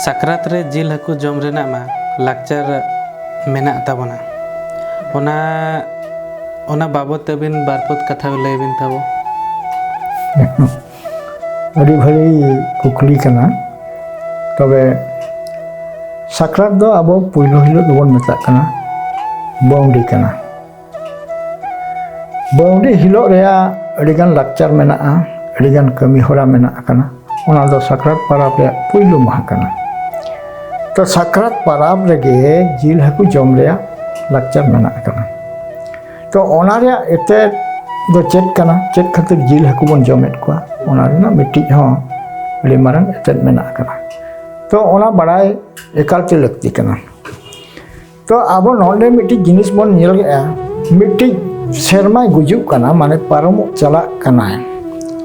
ᱥᱟᱠᱨᱟᱛ ᱨᱮ ᱡᱤᱞ ᱦᱟᱹᱠᱩ ᱡᱚᱢ ᱨᱮᱱᱟᱜ ᱢᱟ ᱞᱟᱠᱪᱟᱨ ᱢᱮᱱᱟᱜ ᱛᱟᱵᱚᱱᱟ ᱚᱱᱟ ᱚᱱᱟ ᱵᱟᱵᱚᱛ ᱛᱮᱵᱤᱱ ᱵᱟᱨ ᱯᱚᱫ ᱠᱟᱛᱷᱟ ᱞᱟᱹᱭ ᱵᱤᱱ ᱛᱟᱵᱚ ᱟᱹᱰᱤ ᱵᱷᱟᱹᱜᱤ ᱠᱩᱠᱞᱤ ᱠᱟᱱᱟ ᱛᱚᱵᱮ ᱥᱟᱠᱨᱟᱛ ᱫᱚ ᱟᱵᱚ ᱯᱩᱭᱞᱩ ᱦᱤᱞᱳᱜ ᱫᱚᱵᱚᱱ ᱢᱮᱛᱟᱜ ᱠᱟᱱᱟ ᱵᱟᱹᱣᱰᱤ ᱠᱟᱱᱟ ᱵᱟᱹᱣᱰᱤ ᱦᱤᱞᱳᱜ ᱨᱮᱭᱟᱜ ᱟᱹᱰᱤᱜᱟᱱ ᱞᱟᱠᱪᱟᱨ ᱢᱮᱱᱟᱜᱼᱟ ᱟᱹᱰᱤᱜᱟᱱ ᱠᱟᱹᱢᱤ ᱦᱚᱨᱟ ᱢᱮᱱᱟᱜ ᱟᱠᱟᱱᱟ ᱚᱱᱟ ᱫᱚ ᱥᱟᱠᱨᱟᱛ ᱯᱟᱨᱟᱵᱽ ᱨᱮᱭᱟᱜ ᱯᱩᱭᱞᱩ ᱢᱟᱦᱟ ᱠᱟᱱᱟ ᱛᱚ ᱥᱟᱠᱨᱟᱛ ᱯᱟᱨᱟᱵᱽ ᱨᱮᱜᱮ ᱡᱤᱞ ᱦᱟᱹᱠᱩ ᱡᱚᱢ ᱨᱮᱭᱟᱜ ᱞᱟᱠᱪᱟᱨ ᱢᱮᱱᱟᱜ ᱟᱠᱟᱱᱟ ᱛᱚ ᱚᱱᱟ ᱨᱮᱭᱟᱜ ᱮᱛᱮᱫ ᱫᱚ ᱪᱮᱫ ᱠᱟᱱᱟ ᱪᱮᱫ ᱠᱷᱟᱹᱛᱤᱨ ᱡᱤᱞ ᱦᱟᱹᱠᱩ ᱵᱚᱱ ᱡᱚᱢᱮᱫ ᱠᱚᱣᱟ ᱚᱱᱟ ᱨᱮᱱᱟᱜ ᱢᱤᱫᱴᱤᱡ ᱦᱚᱸ ᱟᱹᱰᱤ ᱢᱟᱨᱟᱝ ᱮᱛᱮᱫ ᱢᱮᱱᱟᱜ ᱟᱠᱟᱱᱟ ᱛᱚ ᱚᱱᱟ ᱵᱟᱲᱟᱭ ᱮᱠᱟᱞᱛᱮ ᱞᱟᱹᱠᱛᱤ ᱠᱟᱱᱟ ᱛᱚ ᱟᱵᱚ ᱱᱚᱰᱮ ᱢᱤᱫᱴᱤᱡ ᱡᱤᱱᱤᱥ ᱵᱚᱱ ᱧᱮᱞᱮᱜᱼᱟ ᱢᱤᱫᱴᱤᱡ ᱥᱮᱨᱢᱟᱭ ᱜᱩᱡᱩᱜ ᱠᱟᱱᱟ ᱢᱟᱱᱮ ᱯᱟᱨᱚᱢᱚᱜ ᱪᱟᱞᱟᱜ ᱠᱟᱱᱟᱭ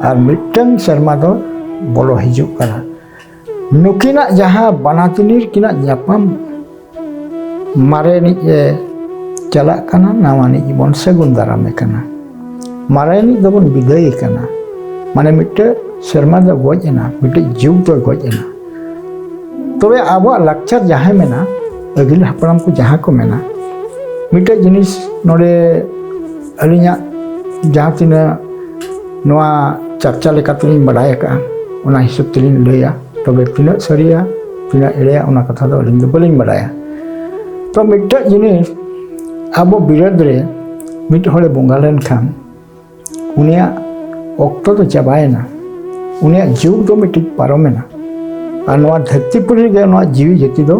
ᱟᱨ ᱢᱤᱫᱴᱟᱝ ᱥᱮᱨᱢᱟ ᱫᱚ ᱵᱚᱞᱚ ᱦᱤᱡᱩᱜ ᱠᱟᱱᱟ ᱱᱩᱠᱤᱱᱟᱜ ᱡᱟᱦᱟᱸ ᱵᱟᱱᱟᱛᱤᱱᱤᱨ ᱠᱤᱱᱟᱜ ᱧᱟᱯᱟᱢ ᱢᱟᱨᱮᱱᱤᱡ ᱮ ᱪᱟᱞᱟᱜ ᱠᱟᱱᱟ ᱱᱟᱣᱟᱱᱤᱡ ᱵᱚᱱ ᱥᱟᱹᱜᱩᱱ ᱫᱟᱨᱟᱢᱮ ᱠᱟᱱᱟ ᱢᱟᱨᱟᱭᱟᱱᱤᱡ ᱫᱚᱵᱚᱱ ᱵᱤᱫᱟᱹᱭ ᱠᱟᱱᱟ ᱢᱟᱱᱮ ᱢᱤᱫᱴᱮᱡ ᱥᱮᱨᱢᱟ ᱫᱚ ᱜᱚᱡ ᱮᱱᱟ ᱢᱤᱫᱴᱮᱡ ᱡᱩᱜᱽ ᱫᱚ ᱜᱚᱡ ᱮᱱᱟ ᱛᱚᱵᱮ ᱟᱵᱚᱣᱟᱜ ᱞᱟᱠᱪᱟᱨ ᱡᱟᱦᱟᱸ ᱢᱮᱱᱟ ᱟᱹᱜᱤᱞ ᱦᱟᱯᱲᱟᱢ ᱠᱚ ᱡᱟᱦᱟᱸ ᱠᱚ ᱢᱮᱱᱟ ᱢᱤᱫᱴᱮᱡ ᱡᱤᱱᱤᱥ ᱱᱚᱰᱮ ᱟᱹᱞᱤᱧᱟᱜ ᱡᱟᱦᱟᱸ ᱛᱤᱱᱟᱹᱜ ᱱᱚᱣᱟ ᱪᱟᱨᱪᱟ ᱞᱮᱠᱟᱛᱮᱞᱤᱧ ᱵᱟᱰᱟᱭ ᱟᱠᱟᱫᱼᱟ ᱚᱱᱟ ᱦᱤᱥᱟᱹᱵ ᱛᱮᱞᱤᱧ ᱞᱟᱹᱭᱟ ᱛᱚᱵᱮ ᱛᱤᱱᱟᱹᱜ ᱥᱟᱹᱨᱤᱭᱟ ᱛᱤᱱᱟᱹᱜ ᱮᱲᱮᱭᱟ ᱚᱱᱟ ᱠᱟᱛᱷᱟ ᱫᱚ ᱟᱹᱞᱤᱧ ᱫᱚ ᱵᱟᱹᱞᱤᱧ ᱵᱟᱰᱟᱭᱟ ᱛᱚ ᱢᱤᱫᱴᱮᱡ ᱡᱤᱱᱤᱥ ᱟᱵᱚ ᱵᱤᱨᱟᱹᱫ ᱨᱮ ᱢᱤᱫ ᱦᱚᱲᱮ ᱵᱚᱸᱜᱟ ᱞᱮᱱᱠᱷᱟᱱ ᱩᱱᱤᱭᱟᱜ ᱚᱠᱛᱚ ᱫᱚ ᱪᱟᱵᱟᱭᱮᱱᱟ ᱩᱱᱤᱭᱟᱜ ᱡᱩᱜᱽ ᱫᱚ ᱢᱤᱫᱴᱤᱡ ᱯᱟᱨᱚᱢᱮᱱᱟ ᱟᱨ ᱱᱚᱣᱟ ᱫᱷᱟᱹᱨᱛᱤ ᱯᱩᱨᱤ ᱨᱮᱜᱮ ᱱᱚᱣᱟ ᱡᱤᱣᱤ ᱡᱟᱹᱛᱤ ᱫᱚ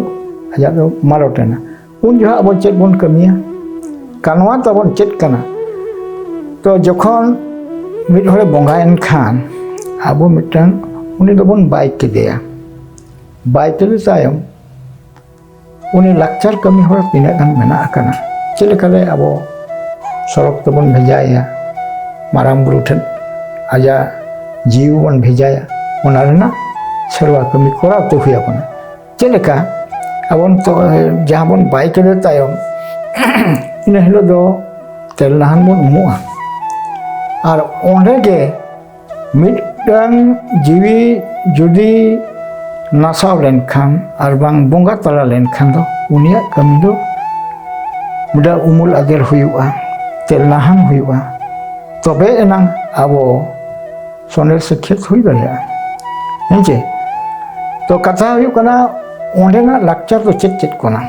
ᱟᱡᱟᱜ ᱫᱚ ᱢᱟᱞᱚᱴ ᱮᱱᱟ ᱩᱱ ᱡᱚᱦᱚᱜ ᱟᱵᱚ ᱪᱮᱫ ᱵᱚᱱ ᱠᱟᱹᱢᱤᱭᱟ ᱠᱟᱱᱣᱟ ᱛᱟᱵᱚᱱ ᱪᱮᱫ ᱠᱟᱱᱟ ᱛᱚ ᱡᱚᱠᱷᱚᱱ ᱢᱤᱫ ᱦᱚᱲᱮ ᱵᱚᱸᱜᱟᱭᱮᱱ ᱠᱷᱟᱱ ᱟᱵᱚ ᱢᱤᱫᱴᱟᱝ ᱩᱱᱤ ᱫᱚᱵᱚᱱ ᱵᱟᱭ ᱠᱮᱫᱮᱭᱟ ᱵᱟᱭ ᱠᱮᱫᱮ ᱛᱟᱭᱚᱢ ᱩᱱᱤ ᱞᱟᱠᱪᱟᱨ ᱠᱟᱹᱢᱤ ᱦᱚᱨᱟ ᱛᱤᱱᱟᱹᱜ ᱜᱟᱱ ᱢᱮᱱᱟᱜ ᱟᱠᱟᱱᱟ ᱪᱮᱫ ᱞᱮᱠᱟᱨᱮ ᱟᱵᱚ ᱥᱚᱲᱚᱠ ᱛᱮᱵᱚᱱ ᱵᱷᱮᱡᱟᱭᱮᱭᱟ ᱢᱟᱨᱟᱝ ᱵᱩᱨᱩ ᱴᱷᱮᱱ ᱟᱡᱟᱜ ᱡᱤᱣᱤ ᱵᱚᱱ ᱵᱷᱮᱡᱟᱭᱟ ᱚᱱᱟ ᱨᱮᱱᱟᱜ ᱥᱮᱨᱣᱟ ᱠᱟᱹᱢᱤ ᱠᱚᱨᱟᱣ ᱛᱮ ᱦᱩᱭ ᱟᱵᱚᱱᱟ ᱪᱮᱫ ᱞᱮᱠᱟ ᱟᱵᱚ ᱱᱤᱛᱚᱜ ᱡᱟᱦᱟᱸ ᱵᱚᱱ ᱵᱟᱭ ᱠᱮᱫᱮ ᱛᱟᱭᱚᱢ ᱤᱱᱟᱹ ᱦᱤᱞᱳᱜ ᱫᱚ ᱛᱮᱞ ᱱᱟᱦᱟᱱ ᱵᱚᱱ ᱩᱢᱩᱜᱼᱟ ᱟᱨ ᱚᱸᱰᱮ ᱜᱮ ᱢᱤᱫᱴᱟᱝ ᱡᱤᱣᱤ ᱡᱩᱫᱤ ᱱᱟᱥᱟᱣ ᱞᱮᱱᱠᱷᱟᱱ ᱟᱨ ᱵᱟᱝ ᱵᱚᱸᱜᱟ ᱛᱟᱞᱟ ᱞᱮᱱᱠᱷᱟᱱ ᱫᱚ ᱩᱱᱤᱭᱟᱜ ᱠᱟᱹᱢᱤ ᱫᱚ ᱢᱤᱫᱴᱟᱝ ᱩᱢᱩᱞ ᱟᱜᱮᱨ ᱦᱩᱭᱩᱜᱼᱟ ᱛᱮ ᱞᱟᱦᱟᱱ ᱦᱩᱭᱩᱜᱼᱟ ᱛᱚᱵᱮ ᱮᱱᱟᱝ ᱟᱵᱚ ᱥᱚᱱᱮᱨ ᱥᱤᱠᱷᱤᱛ ᱦᱩᱭ ᱫᱟᱲᱮᱭᱟᱜᱼᱟ ᱦᱮᱸᱪᱮ ᱛᱚ ᱠᱟᱛᱷᱟ ᱦᱩᱭᱩᱜ ᱠᱟᱱᱟ ᱚᱸᱰᱮᱱᱟᱜ ᱞᱟᱠᱪᱟᱨ ᱫᱚ ᱪᱮᱫ ᱪᱮᱫ ᱠᱟᱱᱟ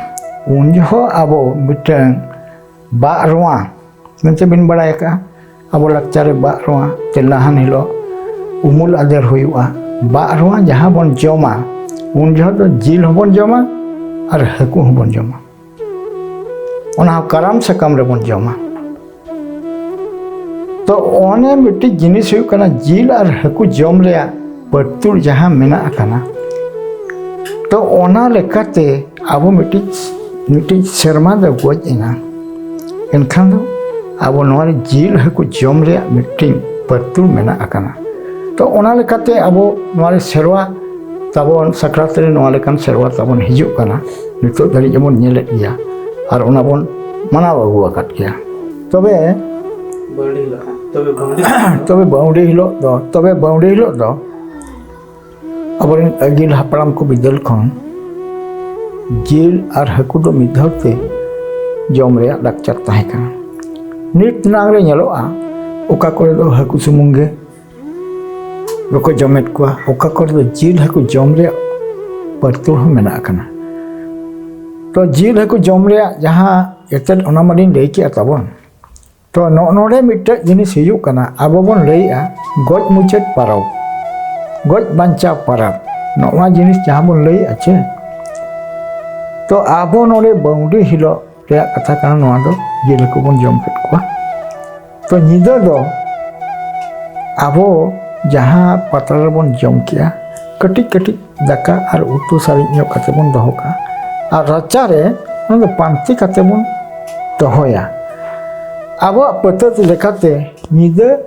ᱩᱱ ᱡᱚᱦᱚᱜ ᱟᱵᱚ ᱢᱤᱫᱴᱟᱝ ᱵᱟᱜ ᱨᱚᱣᱟ ᱢᱮᱱᱛᱮ ᱵᱤᱱ ᱵᱟᱲᱟᱭ ᱟᱠᱟᱜᱼᱟ ᱟᱵᱚ ᱞᱟᱠᱪᱟᱨ ᱨᱮ ᱵᱟᱜ ᱨᱚᱣᱟ ᱛᱮᱞᱟᱦᱟᱱ ᱦᱤᱞᱳᱜ ᱩᱢᱩᱞ ᱟᱫᱮᱨ ᱦᱩᱭᱩᱜᱼᱟ ᱵᱟᱜ ᱨᱚᱣᱟ ᱡᱟᱦᱟᱸ ᱵᱚᱱ ᱡᱚᱢᱟ ᱩᱱ ᱡᱚᱦᱚᱜ ᱫᱚ ᱡᱤᱞ ᱦᱚᱸᱵᱚᱱ ᱡᱚᱢᱟ ᱟᱨ ᱦᱟᱹᱠᱩ ᱦᱚᱸᱵᱚᱱ ᱡᱚᱢᱟ ᱚᱱᱟ ᱦᱚᱸ ᱠᱟᱨᱟᱢ ᱥᱟᱠᱟᱢ ᱨᱮᱵᱚᱱ ᱡᱚᱢᱟ ᱛᱚ ᱚᱱᱮ ᱢᱤᱫᱴᱤᱡ ᱡᱤᱱᱤᱥ ᱦᱩᱭᱩᱜ ᱠᱟᱱᱟ ᱡᱤᱞ ᱟᱨ ᱦᱟᱹᱠᱩ ᱡᱚᱢ ᱨᱮᱭᱟᱜ ᱯᱟᱹᱨᱛᱩᱲ ᱡᱟᱦᱟᱸ ᱢᱮᱱᱟᱜ ᱟᱠᱟᱱᱟ ᱛᱚ ᱚᱱᱟ ᱞᱮᱠᱟᱛᱮ ᱟᱵᱚ ᱢᱤᱫᱴᱤᱡ ᱢᱤᱫᱴᱤᱡ ᱥᱮᱨᱢᱟ ᱫᱚ ᱜᱚᱡ ᱮᱱᱟ ᱮᱱᱠᱷᱟᱱ ᱫᱚ ᱟᱵᱚ ᱱᱚᱣᱟ ᱨᱮ ᱡᱤᱞ ᱦᱟᱹᱠᱩ ᱡᱚᱢ ᱨᱮᱭᱟᱜ ᱢᱤᱫᱴᱤᱱ ᱯᱟᱹᱨᱛᱩᱞ ᱢᱮᱱᱟᱜ ᱟᱠᱟᱱᱟ ᱛᱚ ᱚᱱᱟ ᱞᱮᱠᱟᱛᱮ ᱟᱵᱚ ᱱᱚᱣᱟ ᱨᱮ ᱥᱮᱨᱣᱟ ᱛᱟᱵᱚᱱ ᱥᱟᱠᱨᱟᱛ ᱨᱮ ᱱᱚᱣᱟ ᱞᱮᱠᱟᱱ ᱥᱮᱨᱣᱟ ᱛᱟᱵᱚᱱ ᱦᱤᱡᱩᱜ ᱠᱟᱱᱟ ᱱᱤᱛᱚᱜ ᱫᱷᱟᱹᱨᱤᱡ ᱵᱚᱱ ᱧᱮᱞᱮᱫ ᱜᱮᱭᱟ ᱟᱨ ᱚᱱᱟ ᱵᱚᱱ ᱢᱟᱱᱟᱣ ᱟᱹᱜᱩ ᱟᱠᱟᱫ ᱜᱮᱭᱟ ᱛᱚᱵᱮ ᱛᱚᱵᱮ ᱵᱟᱹᱣᱰᱤ ᱦᱤᱞᱳᱜ ᱫᱚ ᱛᱚᱵᱮ ᱵᱟᱹᱣᱰᱤ ᱦᱤᱞᱳᱜ ᱫᱚ ᱟᱵᱚᱨᱮᱱ ᱟᱹᱜᱤᱞ ᱦᱟᱯᱲᱟᱢ ᱠᱚ ᱵᱤᱫᱟᱹᱞ ᱠᱷᱚᱱ ᱡᱤᱞ ᱟᱨ ᱦᱟᱹᱠᱩ ᱫᱚ ᱢᱤᱫ ᱫᱷᱟᱣ ᱛᱮ ᱡᱚᱢ ᱨᱮᱭᱟᱜ ᱞᱟᱠᱪᱟᱨ ᱛᱟᱦᱮᱸ ᱠᱟᱱᱟ ᱱᱤᱛ ᱱᱟᱝ ᱨᱮ ᱧᱮᱞᱚᱜᱼᱟ ᱚᱠᱟ ᱠᱚᱨᱮ ᱫᱚ ᱦᱟᱹᱠᱩ ᱥᱩᱢᱩᱝ ᱜᱮ ᱵᱟᱠᱚ ᱡᱚᱢᱮᱫ ᱠᱚᱣᱟ ᱚᱠᱟ ᱠᱚᱨᱮ ᱫᱚ ᱡᱤᱞ ᱦᱟᱹᱠᱩ ᱡᱚᱢ ᱨᱮᱭᱟᱜ ᱯᱟᱹᱨᱛᱩᱞ ᱦᱚᱸ ᱢᱮᱱᱟᱜ ᱟᱠᱟᱱᱟ ᱛᱚ ᱡᱤᱞ ᱦᱟᱹᱠᱩ ᱡᱚᱢ ᱨᱮᱭᱟᱜ ᱡᱟᱦᱟᱸ ᱮᱛᱮᱫ ᱚᱱᱟ ᱢᱟᱞᱤᱧ ᱞᱟᱹᱭ ᱠᱮᱜᱼᱟ ᱛᱟᱵᱚᱱ ᱛᱚ ᱱᱚᱜᱼᱚ ᱱᱚᱰᱮ ᱢᱤᱫᱴᱮᱡ ᱡᱤᱱᱤᱥ ᱦᱩᱭᱩᱜ ᱠᱟᱱᱟ ᱟᱵᱚ ᱵᱚᱱ ᱞᱟᱹᱭᱮᱜᱼᱟ ᱜᱚᱡ ᱢᱩᱪᱟᱹᱫ ᱯᱟᱨᱟᱵᱽ ᱜᱚᱡ ᱵᱟᱧᱪᱟᱣ ᱯᱟᱨᱟᱵᱽ ᱱᱚᱜᱼᱚ ᱡᱤᱱᱤᱥ ᱡᱟᱦᱟᱸ ᱵᱚᱱ ᱞᱟᱹᱭᱮᱜᱼᱟ ᱪᱮ ᱛᱚ ᱟᱵᱚ ᱱᱚᱰᱮ ᱵᱟᱹᱣᱰᱤ ᱦᱤᱞᱳᱜ ᱨᱮᱭᱟᱜ ᱠᱟᱛᱷᱟ ᱠᱟᱱᱟ ᱱᱚᱣᱟ ᱫᱚ ᱡᱤᱞ ᱦᱟᱹᱠᱩ ᱵᱚᱱ ᱡᱚᱢ ᱠᱮᱫ ᱠᱚᱣᱟ ᱛᱚ ᱧᱤᱫᱟᱹ ᱫᱚ ᱟᱵᱚ ᱡᱟᱦᱟᱸ ᱯᱟᱛᱲᱟ ᱨᱮᱵᱚᱱ ᱡᱚᱢ ᱠᱮᱜᱼᱟ ᱠᱟᱹᱴᱤᱡ ᱠᱟᱹᱴᱤᱡ ᱫᱟᱠᱟ ᱟᱨ ᱩᱛᱩ ᱥᱟᱨᱮᱡ ᱧᱚᱜ ᱠᱟᱛᱮ ᱵᱚᱱ ᱫᱚᱦᱚ ᱠᱟᱜᱼᱟ ᱟᱨ ᱨᱟᱪᱟ ᱨᱮ ᱚᱱᱟ ᱫᱚ ᱯᱟᱱᱛᱮ ᱠᱟᱛᱮ ᱵᱚᱱ ᱫᱚᱦᱚᱭᱟ ᱟᱵᱚᱣᱟᱜ ᱯᱟᱹᱛᱟᱹᱛ ᱞᱮᱠᱟᱛᱮ ᱧᱤᱫᱟᱹ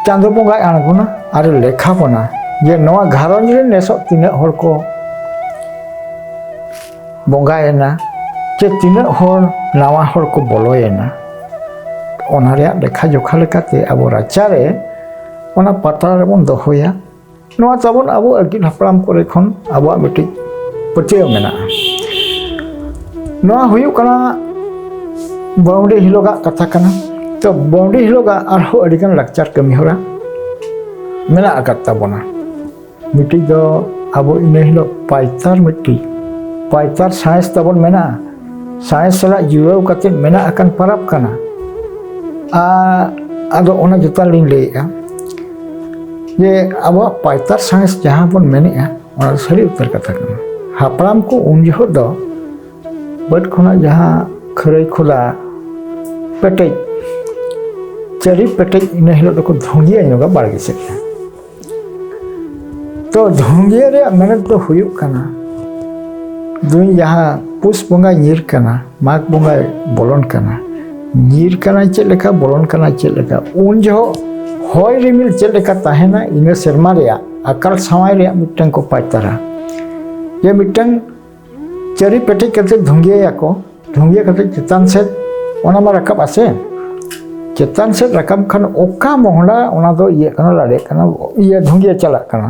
ᱪᱟᱸᱫᱚ ᱵᱚᱸᱜᱟᱭ ᱟᱬᱜᱚᱱᱟ ᱟᱨ ᱞᱮᱠᱷᱟ ᱵᱚᱱᱟ ᱡᱮ ᱱᱚᱣᱟ ᱜᱷᱟᱨᱚᱸᱡᱽ ᱨᱮ ᱱᱮᱥᱚᱜ ᱛᱤᱱᱟᱹᱜ ᱦᱚᱲ ᱠᱚ ᱵᱚᱸᱜᱟᱭᱮᱱᱟ ᱪᱮ ᱛᱤᱱᱟᱹᱜ ᱦᱚᱲ ᱱᱟᱣᱟ ᱦᱚᱲ ᱠᱚ ᱵᱚᱞᱚᱭᱮᱱᱟ ᱚᱱᱟ ᱨᱮᱭᱟᱜ ᱞᱮᱠᱷᱟ ᱡᱚᱠᱷᱟ ᱞᱮᱠᱟᱛᱮ ᱟᱵᱚ ᱨᱟᱪᱟᱨᱮ ᱚᱱᱟ ᱯᱟᱛᱲᱟ ᱨᱮᱵᱚᱱ ᱫᱚᱦᱚᱭᱟ ᱱᱚᱣᱟ ᱛᱟᱵᱚᱱ ᱟᱵᱚ ᱟᱹᱜᱤᱞ ᱦᱟᱯᱲᱟᱢ ᱠᱚᱨᱮ ᱠᱷᱚᱱ ᱟᱵᱚᱣᱟᱜ ᱢᱤᱫᱴᱤᱡ ᱯᱟᱹᱛᱭᱟᱹᱣ ᱢᱮᱱᱟᱜᱼᱟ ᱱᱚᱣᱟ ᱦᱩᱭᱩᱜ ᱠᱟᱱᱟ ᱵᱟᱹᱣᱰᱤ ᱦᱤᱞᱳᱜᱟᱜ ᱠᱟᱛᱷᱟ ᱠᱟᱱᱟ ᱛᱚ ᱵᱟᱹᱣᱰᱤ ᱦᱤᱞᱳᱜᱟᱜ ᱟᱨᱦᱚᱸ ᱟᱹᱰᱤᱜᱟᱱ ᱞᱟᱠᱪᱟᱨ ᱠᱟᱹᱢᱤ ᱦᱚᱨᱟ ᱢᱮᱱᱟᱜ ᱟᱠᱟᱫ ᱛᱟᱵᱚᱱᱟ ᱢᱤᱫᱴᱤᱡ ᱫᱚ ᱟᱵᱚ ᱤᱱᱟᱹ ᱦᱤᱞᱳᱜ ᱯᱟᱭᱛᱟᱨ ᱢᱤᱫᱴᱤᱡ ᱯᱟᱭᱛᱟᱨ ᱥᱟᱬᱮᱥ ᱛᱟᱵᱚᱱ ᱢᱮᱱᱟᱜᱼᱟ ᱥᱟᱭ ᱥᱟᱞᱟᱜ ᱡᱩᱲᱟᱹᱣ ᱠᱟᱛᱮ ᱢᱮᱱᱟᱜ ᱟᱠᱟᱱ ᱯᱟᱨᱟᱵᱽ ᱠᱟᱱᱟ ᱟᱨ ᱟᱫᱚ ᱚᱱᱟ ᱡᱚᱛᱚ ᱞᱤᱧ ᱞᱟᱹᱭᱮᱫᱼᱟ ᱡᱮ ᱟᱵᱚᱣᱟᱜ ᱯᱟᱭᱛᱟᱨ ᱥᱟᱬᱮᱥ ᱡᱟᱦᱟᱸ ᱵᱚᱱ ᱢᱮᱱᱮᱫᱼᱟ ᱚᱱᱟ ᱫᱚ ᱥᱟᱹᱨᱤ ᱩᱛᱟᱹᱨ ᱠᱟᱛᱷᱟ ᱠᱟᱱᱟ ᱦᱟᱯᱲᱟᱢ ᱠᱚ ᱩᱱ ᱡᱚᱦᱚᱜ ᱫᱚ ᱵᱟᱹᱫᱽ ᱠᱷᱚᱱᱟᱜ ᱡᱟᱦᱟᱸ ᱠᱷᱟᱹᱨᱟᱹᱭ ᱠᱷᱚᱫᱟ ᱯᱮᱴᱮᱡ ᱪᱟᱹᱨᱤ ᱯᱮᱴᱮᱡ ᱤᱱᱟᱹ ᱦᱤᱞᱳᱜ ᱫᱚᱠᱚ ᱫᱷᱩᱸᱫᱤᱭᱟ ᱧᱚᱜᱟ ᱵᱟᱲᱜᱮ ᱥᱮᱫ ᱨᱮ ᱛᱚ ᱫᱷᱩᱝᱜᱤᱭᱟᱹ ᱨᱮᱭᱟᱜ ᱢᱮᱱᱮᱛ ᱫᱚ ᱦᱩᱭᱩᱜ ᱠᱟᱱᱟ ᱫᱩᱧ ᱡᱟᱦᱟᱸ ᱯᱩᱥ ᱵᱚᱸᱜᱟᱭ ᱧᱤᱨ ᱠᱟᱱᱟ ᱢᱟᱜᱽ ᱵᱚᱸᱜᱟᱭ ᱵᱚᱞᱚᱱ ᱠᱟᱱᱟ ᱧᱤᱨ ᱠᱟᱱᱟᱭ ᱪᱮᱫ ᱞᱮᱠᱟ ᱵᱚᱞᱚᱱ ᱠᱟᱱᱟ ᱪᱮᱫ ᱞᱮᱠᱟ ᱩᱱ ᱡᱚᱦᱚᱜ ᱦᱚᱭ ᱨᱤᱢᱤᱞ ᱪᱮᱫ ᱞᱮᱠᱟ ᱛᱟᱦᱮᱱᱟ ᱤᱱᱟᱹ ᱥᱮᱨᱢᱟ ᱨᱮᱭᱟᱜ ᱟᱠᱟᱞ ᱥᱟᱶᱟᱭ ᱨᱮᱭᱟᱜ ᱢᱤᱫᱴᱟᱝ ᱠᱚ ᱯᱟᱪᱛᱟᱨᱟ ᱡᱮ ᱢᱤᱫᱴᱟᱝ ᱪᱟᱹᱨᱤ ᱯᱮᱴᱮᱡ ᱠᱟᱛᱮ ᱫᱷᱩᱝᱜᱤᱭᱟᱠᱚ ᱫᱷᱩᱝᱜᱤᱭᱟ ᱠᱟᱛᱮ ᱪᱮᱛᱟᱱ ᱥᱮᱫ ᱚᱱᱟ ᱢᱟ ᱨᱟᱠᱟᱵ ᱟᱥᱮ ᱪᱮᱛᱟᱱ ᱥᱮᱫ ᱨᱟᱠᱟᱵ ᱠᱷᱟᱱ ᱚᱠᱟ ᱢᱚᱦᱰᱟ ᱚᱱᱟ ᱫᱚ ᱤᱭᱟᱹᱜ ᱠᱟᱱᱟ ᱞᱟᱲᱮᱜ ᱠᱟᱱᱟ ᱤᱭᱟᱹ ᱫᱷᱩᱝᱜᱤᱭᱟ ᱪᱟᱞᱟᱜ ᱠᱟᱱᱟ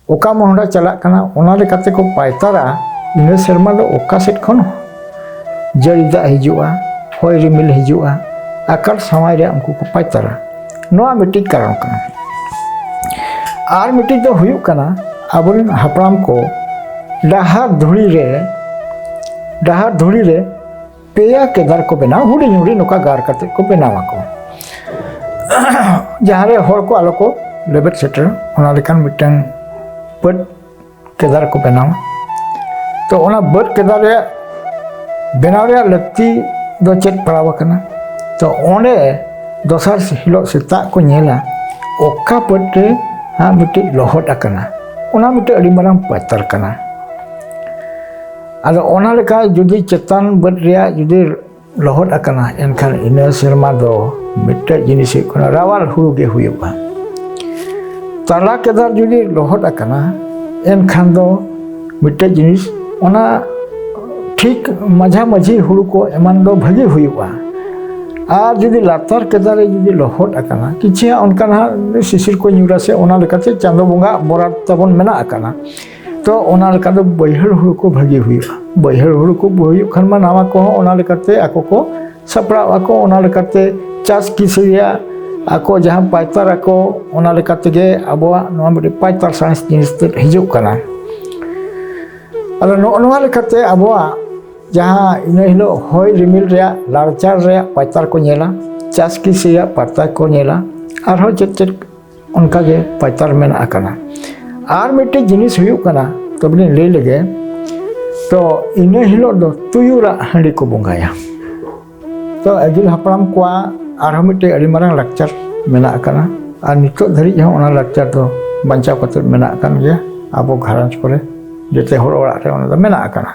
ᱚᱠᱟ ᱢᱚᱦᱰᱟ ᱪᱟᱞᱟᱜ ᱠᱟᱱᱟ ᱚᱱᱟ ᱞᱮᱠᱟᱛᱮ ᱠᱚ ᱯᱟᱭᱛᱟᱨᱟ ᱤᱱᱟᱹ ᱥᱮᱨᱢᱟ ᱫᱚ ᱚᱠᱟ ᱥᱮᱫ ᱠᱷᱚᱱ ᱡᱟᱹᱲᱤ ᱫᱟᱜ ᱦᱤᱡᱩᱜᱼᱟ ᱦᱚᱭ ᱨᱤᱢᱤᱞ ᱦᱤᱡᱩᱜᱼᱟ ᱟᱠᱟᱞ ᱥᱟᱶᱟᱭ ᱨᱮ ᱩᱱᱠᱩ ᱠᱚ ᱯᱟᱭᱛᱟᱨᱟ ᱱᱚᱣᱟ ᱢᱤᱫᱴᱤᱡ ᱠᱟᱨᱚᱱ ᱠᱟᱱᱟ ᱟᱨ ᱢᱤᱫᱴᱤᱡ ᱫᱚ ᱦᱩᱭᱩᱜ ᱠᱟᱱᱟ ᱟᱵᱚᱨᱮᱱ ᱦᱟᱯᱲᱟᱢ ᱠᱚ ᱰᱟᱦᱟᱨ ᱫᱷᱩᱲᱤ ᱨᱮ ᱰᱟᱦᱟᱨ ᱫᱷᱩᱲᱤ ᱨᱮ ᱯᱮᱭᱟ ᱠᱮᱫᱟᱨ ᱠᱚ ᱵᱮᱱᱟᱣ ᱦᱩᱰᱤᱧ ᱦᱩᱰᱤᱧ ᱱᱚᱝᱠᱟ ᱜᱟᱨ ᱠᱟᱛᱮ ᱠᱚ ᱵᱮᱱᱟᱣ ᱟᱠᱚ ᱡᱟᱦᱟᱸᱨᱮ ᱦᱚᱲ ᱠᱚ ᱟᱞᱚ ᱠᱚ ᱞᱮᱵᱮᱫ ᱥᱮᱴᱮᱨ ᱚᱱᱟ ᱞᱮᱠᱟᱱ ᱢᱤᱫᱴᱟᱝ ᱯᱟᱹᱴ ᱠᱮᱫᱟᱨ ᱠᱚ ᱵᱮᱱᱟᱣᱟ ᱛᱚ ᱚᱱᱟ ᱵᱟᱹᱫᱽ ᱠᱮᱫᱟᱨ ᱨᱮᱭᱟᱜ ᱵᱮᱱᱟᱣ ᱨᱮᱭᱟᱜ ᱞᱟᱹᱠᱛᱤ ᱫᱚ ᱪᱮᱫ ᱯᱟᱲᱟᱣ ᱟᱠᱟᱱᱟ ᱛᱚ ᱚᱸᱰᱮ ᱫᱚᱥᱟᱨ ᱦᱤᱞᱳᱜ ᱥᱮᱛᱟᱜ ᱠᱚ ᱧᱮᱞᱟ ᱚᱠᱟ ᱵᱟᱹᱫᱽ ᱨᱮ ᱦᱟᱸᱜ ᱢᱤᱫᱴᱤᱡ ᱞᱚᱦᱚᱫ ᱟᱠᱟᱱᱟ ᱚᱱᱟ ᱢᱤᱫᱴᱮᱡ ᱟᱹᱰᱤ ᱢᱟᱨᱟᱝ ᱯᱟᱛᱟᱨ ᱠᱟᱱᱟ ᱟᱫᱚ ᱚᱱᱟ ᱞᱮᱠᱟ ᱡᱩᱫᱤ ᱪᱮᱛᱟᱱ ᱵᱟᱹᱫᱽ ᱨᱮᱭᱟᱜ ᱡᱩᱫᱤ ᱞᱚᱦᱚᱫ ᱟᱠᱟᱱᱟ ᱮᱱᱠᱷᱟᱱ ᱤᱱᱟᱹ ᱥᱮᱨᱢᱟ ᱫᱚ ᱢᱤᱫᱴᱮᱡ ᱡᱤᱱᱤᱥ ᱦᱩᱭᱩᱜ ᱠᱟᱱᱟ ᱨᱟᱣᱟᱞ ᱦᱩᱲᱩ ᱜᱮ ᱦᱩᱭᱩᱜᱼᱟ ᱛᱟᱞᱟ ᱠᱮᱫᱟᱨ ᱡᱩᱫᱤ ᱞᱚᱦᱚᱫ ᱟᱠᱟᱱᱟ ᱮᱱᱠᱷᱟᱱ ᱫᱚ ᱢᱤᱫᱴᱮᱡ ᱡᱤᱱᱤᱥ ᱚᱱᱟ ᱴᱷᱤᱠ ᱢᱟᱡᱷᱟ ᱢᱟᱹᱡᱷᱤ ᱦᱩᱲᱩ ᱠᱚ ᱮᱢᱟᱱ ᱫᱚ ᱵᱷᱟᱹᱜᱤ ᱦᱩᱭᱩᱜᱼᱟ ᱟᱨ ᱡᱩᱫᱤ ᱞᱟᱛᱟᱨ ᱠᱮᱫᱟᱨ ᱨᱮ ᱡᱩᱫᱤ ᱞᱚᱦᱚᱫ ᱟᱠᱟᱱᱟ ᱠᱤᱪᱷᱩ ᱚᱱᱠᱟᱱᱟᱜ ᱥᱤᱥᱤᱨ ᱠᱚ ᱧᱩᱨᱟ ᱥᱮ ᱚᱱᱟ ᱞᱮᱠᱟᱛᱮ ᱪᱟᱸᱫᱚ ᱵᱚᱸᱜᱟ ᱵᱚᱨᱟᱫ ᱛᱟᱵᱚᱱ ᱢᱮᱱᱟᱜ ᱟᱠᱟᱱᱟ ᱛᱚ ᱚᱱᱟ ᱞᱮᱠᱟ ᱫᱚ ᱵᱟᱹᱭᱦᱟᱹᱲ ᱦᱩᱲᱩ ᱠᱚ ᱵᱷᱟᱹᱜᱤ ᱦᱩᱭᱩᱜᱼᱟ ᱵᱟᱹᱭᱦᱟᱹᱲ ᱦᱩᱲᱩ ᱠᱚ ᱦᱩᱭᱩᱜ ᱠᱷᱟᱱ ᱢᱟ ᱱᱟᱣᱟ ᱠᱚᱦᱚᱸ ᱚᱱᱟ ᱞᱮᱠᱟᱛᱮ ᱟᱠᱚ ᱠᱚ ᱥᱟᱯᱲᱟᱣ ᱟᱠᱚ ᱚᱱᱟ ᱞᱮᱠᱟᱛᱮ ᱪᱟᱥ ᱠᱤᱥᱟᱹ ᱨᱮᱭᱟᱜ ᱟᱠᱚ ᱡᱟᱦᱟᱸ ᱯᱟᱭᱛᱟᱨ ᱟᱠᱚ ᱚᱱᱟ ᱞᱮᱠᱟ ᱛᱮᱜᱮ ᱟᱵᱚᱣᱟᱜ ᱱᱚᱣᱟ ᱢᱤᱫᱴᱮᱱ ᱯᱟᱭᱛᱟᱨ ᱥᱟᱬᱮᱥ ᱡᱤᱱᱤᱥ ᱛᱮ ᱦᱤᱡᱩᱜ ᱠᱟᱱᱟ ᱟᱫᱚ ᱱᱚᱜᱼᱚ ᱱᱚᱣᱟ ᱞᱮᱠᱟᱛᱮ ᱟᱵᱚᱣᱟᱜ ᱡᱟᱦᱟᱸ ᱤᱱᱟᱹ ᱦᱤᱞᱳᱜ ᱦᱚᱭ ᱨᱤᱢᱤᱞ ᱨᱮᱭᱟᱜ ᱞᱟᱲᱪᱟᱲ ᱨᱮᱭᱟᱜ ᱯᱟᱭᱛᱟᱨ ᱠᱚ ᱧᱮᱞᱟ ᱪᱟᱥ ᱠᱤᱥᱟᱹ ᱨᱮᱭᱟᱜ ᱯᱟᱭᱛᱟᱨ ᱠᱚ ᱧᱮᱞᱟ ᱟᱨᱦᱚᱸ ᱪᱮᱫ ᱪᱮᱫ ᱚᱱᱠᱟ ᱜᱮ ᱯᱟᱪᱟᱨ ᱢᱮᱱᱟᱜ ᱟᱠᱟᱱᱟ ᱟᱨ ᱢᱤᱫᱴᱮᱡ ᱡᱤᱱᱤᱥ ᱦᱩᱭᱩᱜ ᱠᱟᱱᱟ ᱛᱚᱵᱮᱞᱤᱧ ᱞᱟᱹᱭ ᱞᱮᱜᱮ ᱛᱚ ᱤᱱᱟᱹ ᱦᱤᱞᱳᱜ ᱫᱚ ᱛᱩᱭᱩᱨᱟᱜ ᱦᱟᱺᱰᱤ ᱠᱚ ᱵᱚᱸᱜᱟᱭᱟ ᱛᱚ ᱟᱹᱜᱤᱞ ᱦᱟᱯᱲᱟᱢ ᱠᱚᱣᱟᱜ ᱟᱨᱦᱚᱸ ᱢᱤᱫᱴᱮᱡ ᱟᱹᱰᱤ ᱢᱟᱨᱟᱝ ᱞᱟᱠᱪᱟᱨ ᱢᱮᱱᱟᱜ ᱟᱠᱟᱱᱟ ᱟᱨ ᱱᱤᱛᱚᱜ ᱫᱷᱟᱹᱨᱤᱡ ᱦᱚᱸ ᱚᱱᱟ ᱞᱟᱠᱪᱟᱨ ᱫᱚ ᱵᱟᱧᱪᱟᱣ ᱠᱟᱛᱮ ᱢᱮᱱᱟᱜ ᱟᱠᱟᱱ ᱜᱮᱭᱟ ᱟᱵᱚ ᱜᱷᱟᱨᱚᱸᱡᱽ ᱠᱚᱨᱮ ᱡᱚᱛᱚ ᱦᱚᱲ ᱚᱲᱟᱜ ᱨᱮ ᱚᱱᱟ ᱫᱚ ᱢᱮᱱᱟᱜ ᱟᱠᱟᱱᱟ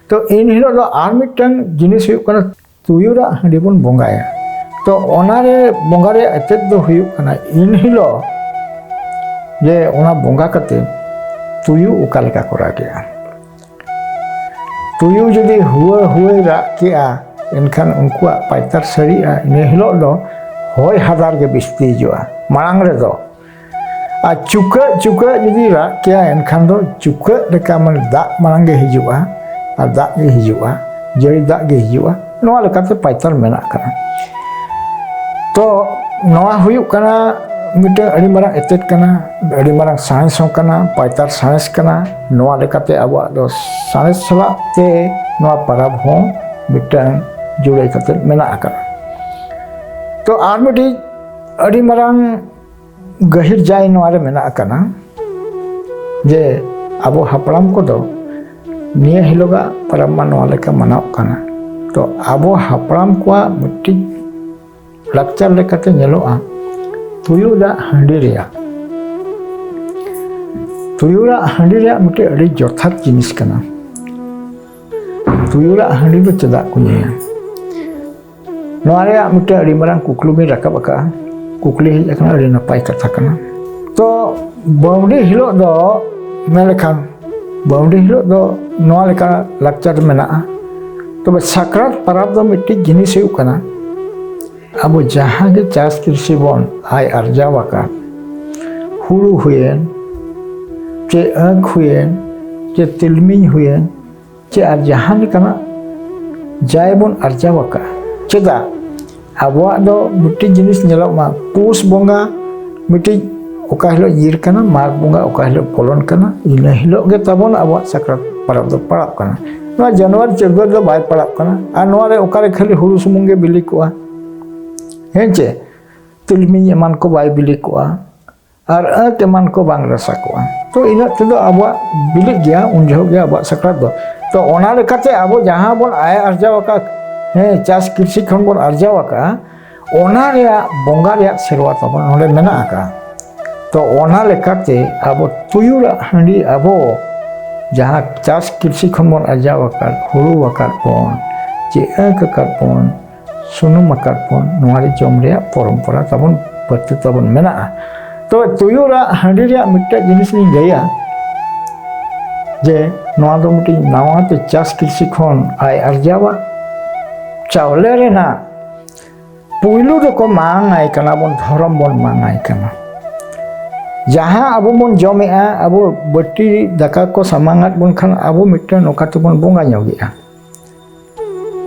ᱛᱚ ᱤᱱ ᱦᱤᱞᱳᱜ ᱫᱚ ᱟᱨ ᱢᱤᱫᱴᱟᱝ ᱡᱤᱱᱤᱥ ᱦᱩᱭᱩᱜ ᱠᱟᱱᱟ ᱛᱩᱭᱩ ᱨᱟᱜ ᱦᱟᱺᱰᱤ ᱵᱚᱱ ᱵᱚᱸᱜᱟᱭᱟ ᱛᱚ ᱚᱱᱟᱨᱮ ᱵᱚᱸᱜᱟ ᱨᱮᱭᱟᱜ ᱮᱛᱮᱫ ᱫᱚ ᱦᱩᱭᱩᱜ ᱠᱟᱱᱟ ᱤᱱ ᱦᱤᱞᱳᱜ ᱡᱮ ᱚᱱᱟ ᱵᱚᱸᱜᱟ ᱠᱟᱛᱮ ᱛᱩᱭᱩ ᱚᱠᱟ ᱞᱮᱠᱟ ᱠᱚ ᱨᱟᱜᱮᱜᱼᱟ ᱛᱩᱭᱩ ᱡᱩᱫᱤ ᱦᱩᱣᱟᱹ ᱦᱩᱣᱟᱹᱭ ᱨᱟᱜ ᱠᱮᱜᱼᱟ ᱮᱱᱠᱷᱟᱱ ᱩᱱᱠᱩᱣᱟᱜ ᱯᱟᱭᱛᱟᱨ ᱥᱟᱹᱨᱤᱜᱼᱟ ᱤᱱᱟᱹ ᱦᱤᱞᱳᱜ ᱫᱚ ᱦᱚᱭ ᱦᱟᱫᱟᱨ ᱜᱮ ᱵᱤᱥᱛᱤ ᱦᱤᱡᱩᱜᱼᱟ ᱢᱟᱲᱟᱝ ᱨᱮᱫᱚ ᱟᱨ ᱪᱩᱠᱟᱹᱜ ᱪᱩᱠᱟᱹᱜ ᱡᱩᱫᱤ ᱨᱟᱜ ᱠᱮᱭᱟ ᱮᱱᱠᱷᱟᱱ ᱫᱚ ᱪᱩᱠᱟᱹᱜ ᱞᱮᱠᱟ ᱢᱟᱱᱮ ᱫᱟᱜ ᱢᱟᱲᱟᱝ ᱜᱮ ᱦᱤᱡᱩᱜᱼᱟ ᱟᱨ ᱫᱟᱜ ᱜᱮ ᱦᱤᱡᱩᱜᱼᱟ ᱡᱟᱹᱲᱤ ᱫᱟᱜ ᱜᱮ ᱦᱤᱡᱩᱜᱼᱟ ᱱᱚᱣᱟ ᱞᱮᱠᱟᱛᱮ ᱯᱟᱭᱛᱟᱨ ᱢᱮᱱᱟᱜ ᱠᱟᱱᱟ ᱛᱚ ᱱᱚᱣᱟ ᱦᱩᱭᱩᱜ ᱠᱟᱱᱟ ᱢᱤᱫᱴᱟᱝ ᱟᱹᱰᱤ ᱢᱟᱨᱟᱝ ᱮᱛᱮᱫ ᱠᱟᱱᱟ ᱟᱹᱰᱤ ᱢᱟᱨᱟᱝ ᱥᱟᱬᱮᱥ ᱦᱚᱸ ᱠᱟᱱᱟ ᱯᱟᱭᱛᱟᱨ ᱥᱟᱬᱮᱥ ᱠᱟᱱᱟ ᱱᱚᱣᱟ ᱞᱮᱠᱟᱛᱮ ᱟᱵᱚᱣᱟᱜ ᱫᱚ ᱥᱟᱬᱮᱥ ᱥᱟᱞᱟᱜ ᱛᱮ ᱱᱚᱣᱟ ᱯᱟᱨᱟᱵᱽ ᱦᱚᱸ ᱢᱤᱫᱴᱟᱝ ᱡᱩᱲᱟᱹᱭ ᱠᱟᱛᱮ ᱢᱮᱱᱟᱜ ᱟᱠᱟᱫᱟ ᱛᱚ ᱟᱨ ᱢᱤᱫᱴᱤᱡ ᱟᱹᱰᱤ ᱢᱟᱨᱟᱝ ᱜᱟᱹᱦᱤᱨ ᱡᱟᱭ ᱱᱚᱣᱟ ᱨᱮ ᱢᱮᱱᱟᱜ ᱟᱠᱟᱱᱟ ᱡᱮ ᱟᱵᱚ ᱦᱟᱯᱲᱟᱢ ᱠᱚᱫᱚ ᱱᱤᱭᱟᱹ ᱦᱤᱞᱳᱜᱟᱜ ᱯᱚᱨᱚᱵᱽ ᱢᱟ ᱱᱚᱣᱟ ᱞᱮᱠᱟ ᱢᱟᱱᱟᱣ ᱠᱟᱱᱟ ᱛᱚ ᱟᱵᱚ ᱦᱟᱯᱲᱟᱢ ᱠᱚᱣᱟᱜ ᱢᱤᱫᱴᱤᱡ ᱞᱟᱠᱪᱟᱨ ᱞᱮᱠᱟᱛᱮ ᱧᱮᱞᱚᱜᱼᱟ ᱛᱩᱭᱩᱞᱟᱜ ᱦᱟᱺᱰᱤ ᱨᱮᱭᱟᱜ ᱛᱩᱭᱩᱞᱟᱜ ᱦᱟᱺᱰᱤ ᱨᱮᱭᱟᱜ ᱢᱤᱫᱴᱤᱡ ᱟᱹᱰᱤ ᱡᱚᱛᱷᱟᱛ ᱡᱤᱱᱤᱥ ᱠᱟᱱᱟ ᱛᱩᱭᱩᱞᱟᱜ ᱦᱟᱺᱰᱤ ᱫᱚ ᱪᱮᱫᱟᱜ ᱠᱚ ᱧᱩᱭᱟ ᱱᱚᱣᱟ ᱨᱮᱭᱟᱜ ᱢᱤᱫᱴᱮᱱ ᱟᱹᱰᱤ ᱢᱟᱨᱟᱝ ᱠᱩᱠᱞᱤ ᱵᱤᱱ ᱨᱟᱠᱟᱵ ᱟᱠᱟᱫᱼᱟ ᱠᱩᱠᱞᱤ ᱦᱮᱡ ᱟᱠᱟᱱᱟ ᱟᱹᱰᱤ ᱱᱟᱯᱟᱭ ᱠᱟᱛᱷᱟ ᱠᱟᱱᱟ ᱛᱚ ᱵᱟᱹᱣᱰᱤ ᱦᱤᱞᱳᱜ ᱫᱚ ᱢᱮᱱ ᱞᱮᱠᱷᱟᱱ ᱵᱟᱹᱣᱰᱤ ᱦᱤᱞᱳᱜ ᱫᱚ ᱱᱚᱣᱟ ᱞᱮᱠᱟ ᱞᱟᱠᱪᱟᱨ ᱢᱮᱱᱟᱜᱼᱟ ᱛᱚᱵᱮ ᱥᱟᱠᱨᱟᱛ ᱯᱟᱨᱟᱵᱽ ᱫᱚ ᱢᱤᱫᱴᱤᱡ ᱡᱤᱱᱤᱥ ᱦᱩᱭᱩᱜ ᱠᱟᱱᱟ ᱟᱵᱚ ᱡᱟᱦᱟᱸ ᱜᱮ ᱪᱟᱥ ᱠᱨᱤᱥᱤ ᱵᱚᱱ ᱟᱭ ᱟᱨᱡᱟᱣ ᱟᱠᱟᱫ ᱦᱩᱲᱩ ᱦᱩᱭᱮᱱ ᱪᱮ ᱟᱹᱠ ᱦᱩᱭᱮᱱ ᱪᱮ ᱛᱤᱞᱢᱤᱧ ᱦᱩᱭᱮᱱ ᱪᱮ ᱟᱨ ᱡᱟᱦᱟᱸ ᱞᱮᱠᱟᱱᱟᱜ ᱡᱟᱭ ᱵᱚᱱ ᱟᱨᱡᱟᱣ ᱟᱠᱟᱫ ᱪᱮᱫᱟᱜ ᱟᱵᱚᱣᱟᱜ ᱫᱚ ᱢᱤᱫᱴᱤᱡ ᱡᱤᱱᱤᱥ ᱧᱮᱞᱚᱜ ᱢᱟ ᱯᱩᱥ ᱵᱚᱸᱜᱟ ᱢᱤᱫᱴᱤᱡ ᱚᱠᱟ ᱦᱤᱞᱳᱜ ᱧᱤᱨ ᱠᱟᱱᱟ ᱢᱟᱜᱽ ᱵᱚᱸᱜᱟ ᱚᱠᱟ ᱦᱤᱞᱳᱜ ᱯᱚᱞᱚᱱ ᱠᱟᱱᱟ ᱤᱱᱟᱹ ᱦᱤᱞᱳᱜ ᱜᱮ ᱛᱟᱵᱚᱱ ᱟᱵᱚᱣᱟᱜ ᱥᱟᱠᱨᱟᱛ ᱯᱚᱨᱚᱵᱽ ᱫᱚ ᱯᱟᱲᱟᱜ ᱠᱟᱱᱟ ᱱᱚᱣᱟ ᱡᱟᱱᱩᱣᱟᱨᱤ ᱪᱟᱹᱛᱣᱟᱹᱨ ᱫᱚ ᱵᱟᱭ ᱯᱟᱲᱟᱜ ᱠᱟᱱᱟ ᱟᱨ ᱱᱚᱣᱟ ᱨᱮ ᱚᱠᱟᱨᱮ ᱠᱷᱟᱹᱞᱤ ᱦᱩᱲᱩ ᱥᱩᱢᱩᱝ ᱜᱮ ᱵᱤᱞᱤ ᱠᱚᱜᱼᱟ ᱦᱮᱸ ᱪᱮ ᱛᱤᱞᱢᱤᱧ ᱮᱢᱟᱱ ᱠᱚ ᱵᱟᱭ ᱵᱤᱞᱤ ᱠᱚᱜᱼᱟ ᱟᱨ ᱟᱹᱛ ᱮᱢᱟᱱ ᱠᱚ ᱵᱟᱝ ᱨᱟᱥᱟ ᱠᱚᱜᱼᱟ ᱛᱚ ᱤᱱᱟᱹᱜ ᱛᱮᱫᱚ ᱟᱵᱚᱣᱟᱜ ᱵᱤᱞᱤᱜ ᱜᱮᱭᱟ ᱩᱱ ᱡᱚᱦᱚᱜ ᱜᱮ ᱟᱵᱚᱣᱟᱜ ᱥᱟᱠᱨᱟᱛ ᱫᱚ ᱛᱚ ᱚᱱᱟ ᱞᱮᱠᱟᱛᱮ ᱟᱵᱚ ᱡᱟᱦᱟᱸ ᱵᱚᱱ ᱟᱭ ᱟᱨᱡᱟᱣ ᱟᱠᱟᱫ ᱦᱮᱸ ᱪᱟᱥ ᱠᱨᱤᱥᱤ ᱠᱷᱚᱱ ᱵᱚᱱ ᱟᱨᱡᱟᱣ ᱟᱠᱟᱫᱼᱟ ᱚᱱᱟ ᱨᱮᱭᱟᱜ ᱵᱚᱸᱜᱟ ᱨᱮᱭᱟᱜ ᱥᱮᱨᱣᱟ ᱛᱟᱵᱚᱱ ᱱᱚᱰᱮ ᱢᱮᱱᱟᱜ ᱟᱠᱟᱫᱼᱟ ᱛᱚ ᱚᱱᱟ ᱞᱮᱠᱟᱛᱮ ᱟᱵᱚ ᱛᱩᱭᱩᱲᱟᱜ ᱦᱟᱺᱰᱤ ᱟᱵᱚ ᱡᱟᱦᱟᱸ ᱪᱟᱥ ᱠᱨᱤᱥᱤ ᱠᱷᱚᱱ ᱵᱚᱱ ᱟᱨᱡᱟᱣ ᱟᱠᱟᱫ ᱦᱩᱲᱩ ᱟᱠᱟᱫ ᱵᱚᱱ ᱪᱮᱫ ᱟᱹᱠ ᱟᱠᱟᱫ ᱵᱚᱱ ᱥᱩᱱᱩᱢ ᱟᱠᱟᱫ ᱵᱚᱱ ᱱᱚᱣᱟ ᱨᱮ ᱡᱚᱢ ᱨᱮᱭᱟᱜ ᱯᱚᱨᱚᱢᱯᱚᱨᱟ ᱛᱟᱵᱚᱱ ᱯᱟᱹᱨᱛᱤ ᱛᱟᱵᱚᱱ ᱢᱮᱱᱟᱜᱼᱟ ᱛᱚᱵᱮ ᱛᱩᱭᱩ ᱨᱟᱜ ᱦᱟᱺᱰᱤ ᱨᱮᱭᱟᱜ ᱢᱤᱫᱴᱮᱱ ᱡᱤᱱᱤᱥ ᱞᱤᱧ ᱞᱟᱹᱭᱟ ᱡᱮ ᱱᱚᱣᱟ ᱫᱚ ᱢᱤᱫᱴᱤᱡ ᱱᱟᱣᱟ ᱛᱮ ᱪᱟᱥ ᱠᱨᱤᱥᱤ ᱠᱷᱚᱱ ᱟᱭ ᱟᱨᱡᱟᱣᱟ ᱪᱟᱣᱞᱮ ᱨᱮᱱᱟᱜ ᱯᱩᱭᱞᱩ ᱫᱚᱠᱚ ᱢᱟᱝᱟᱭ ᱠᱟᱱᱟ ᱵᱚᱱ ᱫᱷᱚᱨᱚᱢ ᱵᱚᱱ ᱢᱟᱝᱟᱭ ᱠᱟᱱᱟ ᱡᱟᱦᱟᱸ ᱟᱵᱚ ᱵᱚᱱ ᱡᱚᱢᱮᱜᱼᱟ ᱟᱵᱚ ᱵᱟᱹᱴᱤ ᱫᱟᱠᱟ ᱠᱚ ᱥᱟᱢᱟᱝᱟᱫ ᱵᱚᱱ ᱠᱷᱟᱱ ᱟᱵᱚ ᱢᱤᱫᱴᱮᱱ ᱱᱚᱝᱠᱟ ᱛᱮᱵᱚᱱ ᱵᱚᱸᱜᱟ ᱧᱚᱜᱮᱜᱼᱟ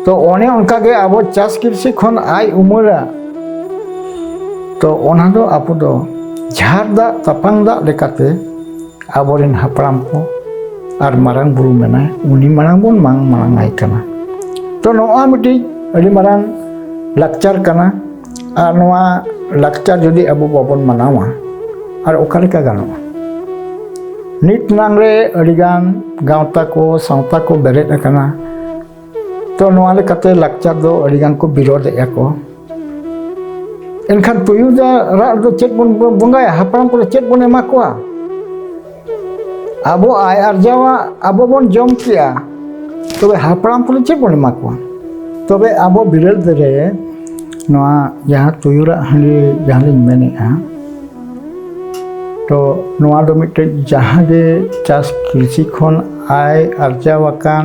ᱛᱚ ᱚᱱᱮ ᱚᱱᱠᱟ ᱜᱮ ᱟᱵᱚ ᱪᱟᱥ ᱠᱨᱤᱥᱤ ᱠᱷᱚᱱ ᱟᱭ ᱩᱢᱟᱹᱨᱟ ᱛᱚ ᱚᱱᱟ ᱫᱚ ᱟᱵᱚ ᱫᱚ ᱡᱷᱟᱨ ᱫᱟᱜ ᱛᱟᱯᱟᱝ ᱫᱟᱜ ᱞᱮᱠᱟᱛᱮ ᱟᱵᱚᱨᱮᱱ ᱦᱟᱯᱲᱟᱢ ᱠᱚ ᱟᱨ ᱢᱟᱨᱟᱝ ᱵᱩᱨᱩ ᱢᱮᱱᱟᱭ ᱩᱱᱤ ᱢᱟᱲᱟᱝ ᱵᱚᱱ ᱢᱟᱝ ᱢᱟᱲᱟᱝ ᱟᱭ ᱠᱟᱱᱟ ᱛᱚ ᱱᱚᱜᱼᱚᱭ ᱢᱤᱫᱴᱤᱡ ᱟᱹᱰᱤ ᱢᱟᱨᱟᱝ ᱞᱟᱠᱪᱟᱨ ᱠᱟᱱᱟ ᱟᱨ ᱱᱚᱣᱟ ᱞᱟᱠᱪᱟᱨ ᱡᱩᱫᱤ ᱟᱵᱚ ᱵᱟᱵᱚᱱ ᱢᱟᱱᱟᱣᱟ ᱟᱨ ᱚᱠᱟ ᱞᱮᱠᱟ ᱜᱟᱱᱚᱜᱼᱟ ᱱᱤᱛ ᱱᱟᱝ ᱨᱮ ᱟᱹᱰᱤᱜᱟᱱ ᱜᱟᱶᱛᱟ ᱠᱚ ᱥᱟᱶᱛᱟ ᱠᱚ ᱵᱮᱨᱮᱫ ᱟᱠᱟᱱᱟ ᱛᱚ ᱱᱚᱣᱟ ᱞᱮᱠᱟᱛᱮ ᱞᱟᱠᱪᱟᱨ ᱫᱚ ᱟᱹᱰᱤᱜᱟᱱ ᱠᱚ ᱵᱤᱨᱳᱫᱮᱜᱼᱟ ᱠᱚ ᱮᱱᱠᱷᱟᱱ ᱛᱩᱭᱩ ᱫᱚ ᱨᱟᱜ ᱫᱚ ᱪᱮᱫ ᱵᱚᱱ ᱵᱚᱸᱜᱟᱭᱟ ᱦᱟᱯᱲᱟᱢ ᱠᱚᱫᱚ ᱪᱮᱫ ᱵᱚᱱ ᱮᱢᱟ ᱠᱚᱣᱟ ᱟᱵᱚ ᱟᱭ ᱟᱨᱡᱟᱣᱟᱜ ᱟᱵᱚ ᱵᱚᱱ ᱡᱚᱢ ᱠᱮᱭᱟ ᱛᱚᱵᱮ ᱦᱟᱯᱲᱟᱢ ᱠᱚᱫᱚ ᱪᱮᱫ ᱵᱚᱱ ᱮᱢᱟ ᱠᱚᱣᱟ ᱛᱚᱵᱮ ᱟᱵᱚ ᱵᱤᱨᱟᱹᱫ ᱨᱮ ᱱᱚᱣᱟ ᱡᱟᱦᱟᱸ ᱛᱩᱭᱩᱨᱟᱜ ᱦᱟᱺᱰᱤ ᱡᱟᱦᱟᱸ ᱞᱤᱧ ᱢᱮᱱᱮᱫᱼᱟ ᱛᱚ ᱱᱚᱣᱟ ᱫᱚ ᱢᱤᱫᱴᱮᱡ ᱡᱟᱦᱟᱸ ᱜᱮ ᱪᱟᱥ ᱠᱨᱤᱥᱤ ᱠᱷᱚᱱ ᱟᱭ ᱟᱨᱡᱟᱣ ᱟᱠᱟᱱ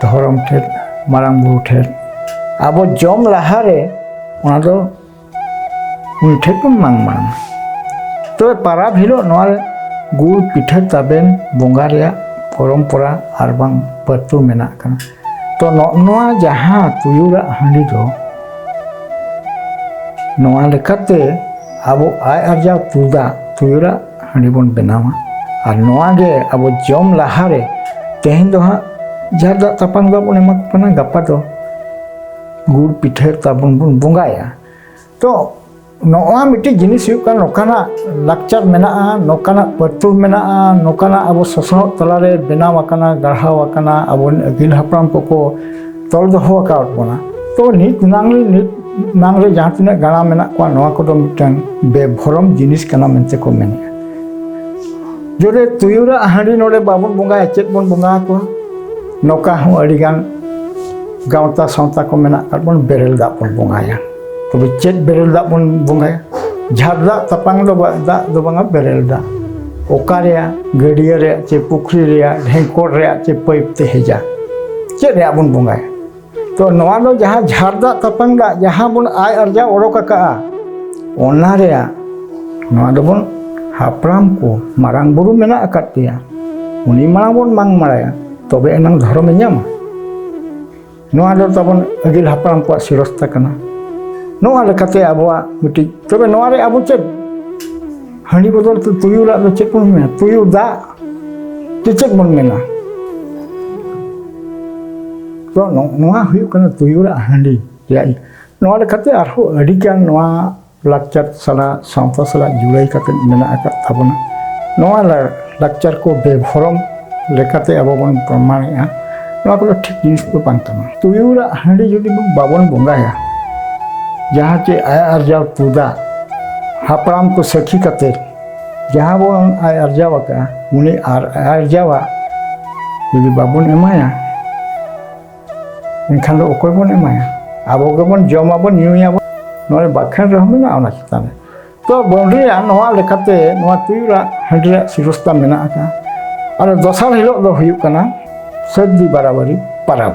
ᱫᱷᱚᱨᱚᱢ ᱴᱷᱮᱱ ᱢᱟᱨᱟᱝ ᱵᱩᱨᱩ ᱴᱷᱮᱱ ᱟᱵᱚ ᱡᱚᱢ ᱞᱟᱦᱟᱨᱮ ᱚᱱᱟ ᱫᱚ ᱩᱱᱤ ᱴᱷᱮᱱ ᱵᱚᱱ ᱢᱟᱝ ᱢᱟᱝ ᱛᱚᱵᱮ ᱯᱟᱨᱟᱵᱽ ᱦᱤᱞᱳᱜ ᱱᱚᱣᱟ ᱜᱩᱲ ᱯᱤᱴᱷᱟᱹ ᱛᱟᱵᱮᱱ ᱵᱚᱸᱜᱟ ᱨᱮᱭᱟᱜ ᱯᱚᱨᱚᱢᱯᱚᱨᱟ ᱟᱨ ᱵᱟᱝ ᱯᱟᱹᱛᱩ ᱢᱮᱱᱟᱜ ᱠᱟᱱᱟ ᱛᱚ ᱱᱚᱣᱟ ᱡᱟᱦᱟᱸ ᱛᱩᱭᱩᱨᱟᱜ ᱦᱟᱺᱰᱤ ᱫᱚ ᱱᱚᱣᱟ ᱞᱮᱠᱟᱛᱮ ᱟᱵᱚ ᱟᱭ ᱟᱨᱡᱟᱣ ᱛᱩᱫᱟᱜ ᱛᱩᱭᱩᱨᱟᱜ ᱦᱟᱺᱰᱤ ᱵᱚᱱ ᱵᱮᱱᱟᱣᱟ ᱟᱨ ᱱᱚᱣᱟ ᱜᱮ ᱟᱵᱚ ᱡᱚᱢ ᱞᱟᱦᱟᱨᱮ ᱛᱮᱦᱮᱧ ᱫᱚ ᱦᱟᱸᱜ ᱡᱟᱦᱟᱸ ᱫᱟᱜ ᱛᱟᱯᱟᱱ ᱫᱟᱜ ᱵᱚᱱ ᱮᱢᱟ ᱠᱟᱱᱟ ᱜᱟᱯᱟ ᱫᱚ ᱜᱩᱲ ᱯᱤᱴᱷᱟᱹ ᱛᱟᱵᱚᱱ ᱵᱚᱱ ᱵᱚᱸᱜᱟᱭᱟ ᱛᱚ ᱱᱚᱣᱟ ᱢᱤᱫᱴᱤᱡ ᱡᱤᱱᱤᱥ ᱦᱩᱭᱩᱜ ᱠᱟᱱᱟ ᱱᱚᱝᱠᱟᱱᱟᱜ ᱞᱟᱠᱪᱟᱨ ᱢᱮᱱᱟᱜᱼᱟ ᱱᱚᱝᱠᱟᱱᱟᱜ ᱯᱟᱹᱨᱛᱩᱞ ᱢᱮᱱᱟᱜᱼᱟ ᱱᱚᱝᱠᱟᱱᱟᱜ ᱟᱵᱚ ᱥᱚᱥᱱᱚᱜ ᱛᱟᱞᱟᱨᱮ ᱵᱮᱱᱟᱣ ᱟᱠᱟᱱᱟ ᱜᱟᱲᱦᱟᱣ ᱟᱠᱟᱱᱟ ᱟᱵᱚ ᱟᱹᱜᱤᱞ ᱦᱟᱯᱲᱟᱢ ᱠᱚᱠᱚ ᱛᱚᱞ ᱫᱚᱦᱚ ᱟᱠᱟᱫ ᱵᱚᱱᱟ ᱛᱚ ᱱᱤᱛ ᱱᱟᱝ ᱱᱤᱛ ᱱᱟᱝ ᱨᱮ ᱡᱟᱦᱟᱸ ᱛᱤᱱᱟᱹᱜ ᱜᱟᱬᱟ ᱢᱮᱱᱟᱜ ᱠᱚᱣᱟ ᱱᱚᱣᱟ ᱠᱚᱫᱚ ᱢᱤᱫᱴᱟᱝ ᱵᱮᱵᱷᱚᱨᱚᱢ ᱡᱤᱱᱤᱥ ᱠᱟᱱᱟ ᱢᱮᱱᱛᱮ ᱠᱚ ᱢᱮᱱᱮᱜᱼᱟ ᱡᱚᱨᱮ ᱛᱩᱭᱩᱨᱟᱜ ᱦᱟᱺᱰᱤ ᱱᱚᱰᱮ ᱵᱟᱵᱚᱱ ᱵᱚᱸᱜᱟᱭᱟ ᱪᱮᱫ ᱵᱚᱱ ᱵᱚᱸᱜᱟ ᱟᱠᱚᱣᱟ ᱱᱚᱝᱠᱟ ᱦᱚᱸ ᱟᱹᱰᱤᱜᱟᱱ ᱜᱟᱶᱛᱟ ᱥᱟᱶᱛᱟ ᱠᱚ ᱢᱮᱱᱟᱜ ᱟᱠᱟᱫ ᱵᱚᱱ ᱵᱮᱨᱮᱞ ᱫᱟᱜ ᱵᱚᱱ ᱵᱚᱸᱜᱟᱭᱟ ᱛᱚᱵᱮ ᱪᱮᱫ ᱵᱮᱨᱮᱞ ᱫᱟᱜ ᱵᱚᱱ ᱵᱚᱸᱜᱟᱭᱟ ᱡᱷᱟᱨ ᱫᱟᱜ ᱛᱟᱯᱟᱝ ᱫᱚ ᱫᱟᱜ ᱫᱚ ᱵᱟᱝᱟ ᱵᱮᱨᱮᱞ ᱫᱟᱜ ᱚᱠᱟ ᱨᱮᱭᱟᱜ ᱜᱟᱹᱰᱭᱟᱹ ᱨᱮᱭᱟᱜ ᱪᱮ ᱯᱩᱠᱷᱨᱤ ᱨᱮᱭᱟᱜ ᱰᱷᱮᱝᱠᱚᱲ ᱨᱮᱭᱟᱜ ᱪᱮ ᱯᱟᱹᱭᱤᱯ ᱛᱮ ᱦᱮᱡᱟ ᱪᱮᱫ ᱨᱮᱭᱟᱜ ᱵᱚᱱ ᱵᱚᱸᱜᱟᱭᱟ ᱛᱚ ᱱᱚᱣᱟ ᱫᱚ ᱡᱟᱦᱟᱸ ᱡᱷᱟᱨ ᱫᱟᱜ ᱛᱟᱯᱟᱝ ᱫᱟᱜ ᱡᱟᱦᱟᱸ ᱵᱚᱱ ᱟᱭ ᱟᱨᱡᱟᱣ ᱚᱰᱚᱠ ᱟᱠᱟᱜᱼᱟ ᱚᱱᱟ ᱨᱮᱭᱟᱜ ᱱᱚᱣᱟ ᱫᱚᱵᱚᱱ ᱦᱟᱯᱲᱟᱢ ᱠᱚ ᱢᱟᱨᱟᱝ ᱵᱩᱨᱩ ᱢᱮᱱᱟᱜ ᱟᱠᱟᱫ ᱯᱮᱭᱟ ᱩᱱᱤ ᱢᱟᱲᱟᱝ ᱵᱚᱱ ᱢᱟᱝ ᱢᱟᱲᱟᱭᱟ ᱛᱚᱵᱮ ᱮᱱᱟᱝ ᱫᱷᱚᱨᱚᱢᱮ ᱧᱟᱢᱟ ᱱᱚᱣᱟ ᱫᱚ ᱛᱟᱵᱚᱱ ᱟᱹᱜᱤᱞ ᱦᱟᱯᱲᱟᱢ ᱠᱚᱣᱟᱜ ᱥᱤᱨᱚᱥᱛᱟ ᱠᱟᱱᱟ ᱱᱚᱣᱟ ᱞᱮᱠᱟᱛᱮ ᱟᱵᱚᱣᱟᱜ ᱢᱤᱫᱴᱤᱡ ᱛᱚᱵᱮ ᱱᱚᱣᱟ ᱨᱮ ᱟᱵᱚ ᱪᱮᱫ ᱦᱟᱺᱰᱤ ᱵᱚᱫᱚᱞ ᱛᱮ ᱛᱩᱭᱩ ᱞᱟᱜ ᱫᱚ ᱪᱮᱫ ᱵᱚᱱ ᱢᱮᱱᱟ ᱛᱩᱭᱩ ᱫᱟᱜ ᱛᱮ ᱪᱮᱫ ᱵᱚᱱ ᱢᱮᱱᱟ ᱛᱚ ᱱᱚᱣᱟ ᱦᱩᱭᱩᱜ ᱠᱟᱱᱟ ᱛᱩᱭᱩ ᱞᱟᱜ ᱦᱟᱺᱰᱤ ᱨᱮᱭᱟᱜ ᱱᱚᱣᱟ ᱞᱮᱠᱟᱛᱮ ᱟᱨᱦᱚᱸ ᱟᱹᱰᱤᱜᱟᱱ ᱱᱚᱣᱟ ᱞᱟᱠᱪᱟᱨ ᱥᱟᱞᱟᱜ ᱥᱟᱶᱛᱟ ᱥᱟᱞᱟᱜ ᱡᱩᱲᱟᱹᱭ ᱠᱟᱛᱮ ᱢᱮᱱᱟᱜ ᱟᱠᱟᱫ ᱛᱟᱵᱚᱱᱟ ᱱᱚᱣᱟ ᱞᱟᱠᱪᱟᱨ ᱠᱚ ᱵᱮᱵᱷᱚᱨᱚᱢ ᱞᱮᱠᱟᱛᱮ ᱟᱵᱚ ᱵᱚᱱ ᱯᱨᱚᱢᱟᱱᱮᱜᱼᱟ ᱱᱚᱣᱟ ᱠᱚᱫᱚ ᱴᱷᱤᱠ ᱡᱤᱱᱤᱥ ᱫᱚ ᱵᱟᱝ ᱠᱟᱱᱟ ᱛᱩᱭᱩᱨᱟᱜ ᱦᱟᱺᱰᱤ ᱡᱩᱫᱤ ᱵᱟᱵᱚᱱ ᱵᱚᱸᱜᱟᱭᱟ ᱡᱟᱦᱟᱸ ᱪᱮ ᱟᱭ ᱟᱨᱡᱟᱣ ᱛᱩᱫᱟ ᱦᱟᱯᱲᱟᱢ ᱠᱚ ᱥᱟᱹᱠᱷᱤ ᱠᱟᱛᱮ ᱡᱟᱦᱟᱸ ᱵᱚᱱ ᱟᱭ ᱟᱨᱡᱟᱣ ᱟᱠᱟᱫᱼᱟ ᱩᱱᱤ ᱟᱨ ᱟᱨᱡᱟᱣᱟᱜ ᱡᱩᱫᱤ ᱵᱟᱵᱚᱱ ᱮᱢᱟᱭᱟ ᱮᱱᱠᱷᱟᱱ ᱫᱚ ᱚᱠᱚᱭ ᱵᱚᱱ ᱮᱢᱟᱭᱟ ᱟᱵᱚ ᱜᱮᱵᱚᱱ ᱡᱚᱢᱟᱵᱚᱱ ᱧᱩᱭᱟᱵᱚᱱ ᱱᱚᱣᱟ ᱵᱟᱠᱷᱮᱬ ᱨᱮᱦᱚᱸ ᱢᱮᱱᱟᱜᱼᱟ ᱚᱱᱟ ᱪᱮᱛᱟᱱ ᱨᱮ ᱛᱚ ᱵᱚᱱᱰᱨᱤᱭᱟᱜ ᱱᱚᱣᱟ ᱞᱮᱠᱟᱛᱮ ᱱᱚᱣᱟ ᱛᱩᱭᱩᱨᱟᱜ ᱦᱟᱺᱰᱤ ᱨᱮᱭᱟᱜ ᱥᱤᱨᱚᱥᱛᱟ ᱢᱮᱱᱟᱜ ᱟᱠᱟᱫᱼᱟ ᱟᱨ ᱫᱚᱥᱟᱨ ᱦᱤᱞᱳᱜ ᱫᱚ ᱦᱩᱭᱩᱜ ᱠᱟᱱᱟ ᱥᱟᱹᱨᱫᱤ ᱵᱟᱨᱟᱵᱟᱨᱤ ᱯᱟᱨᱟᱵᱽ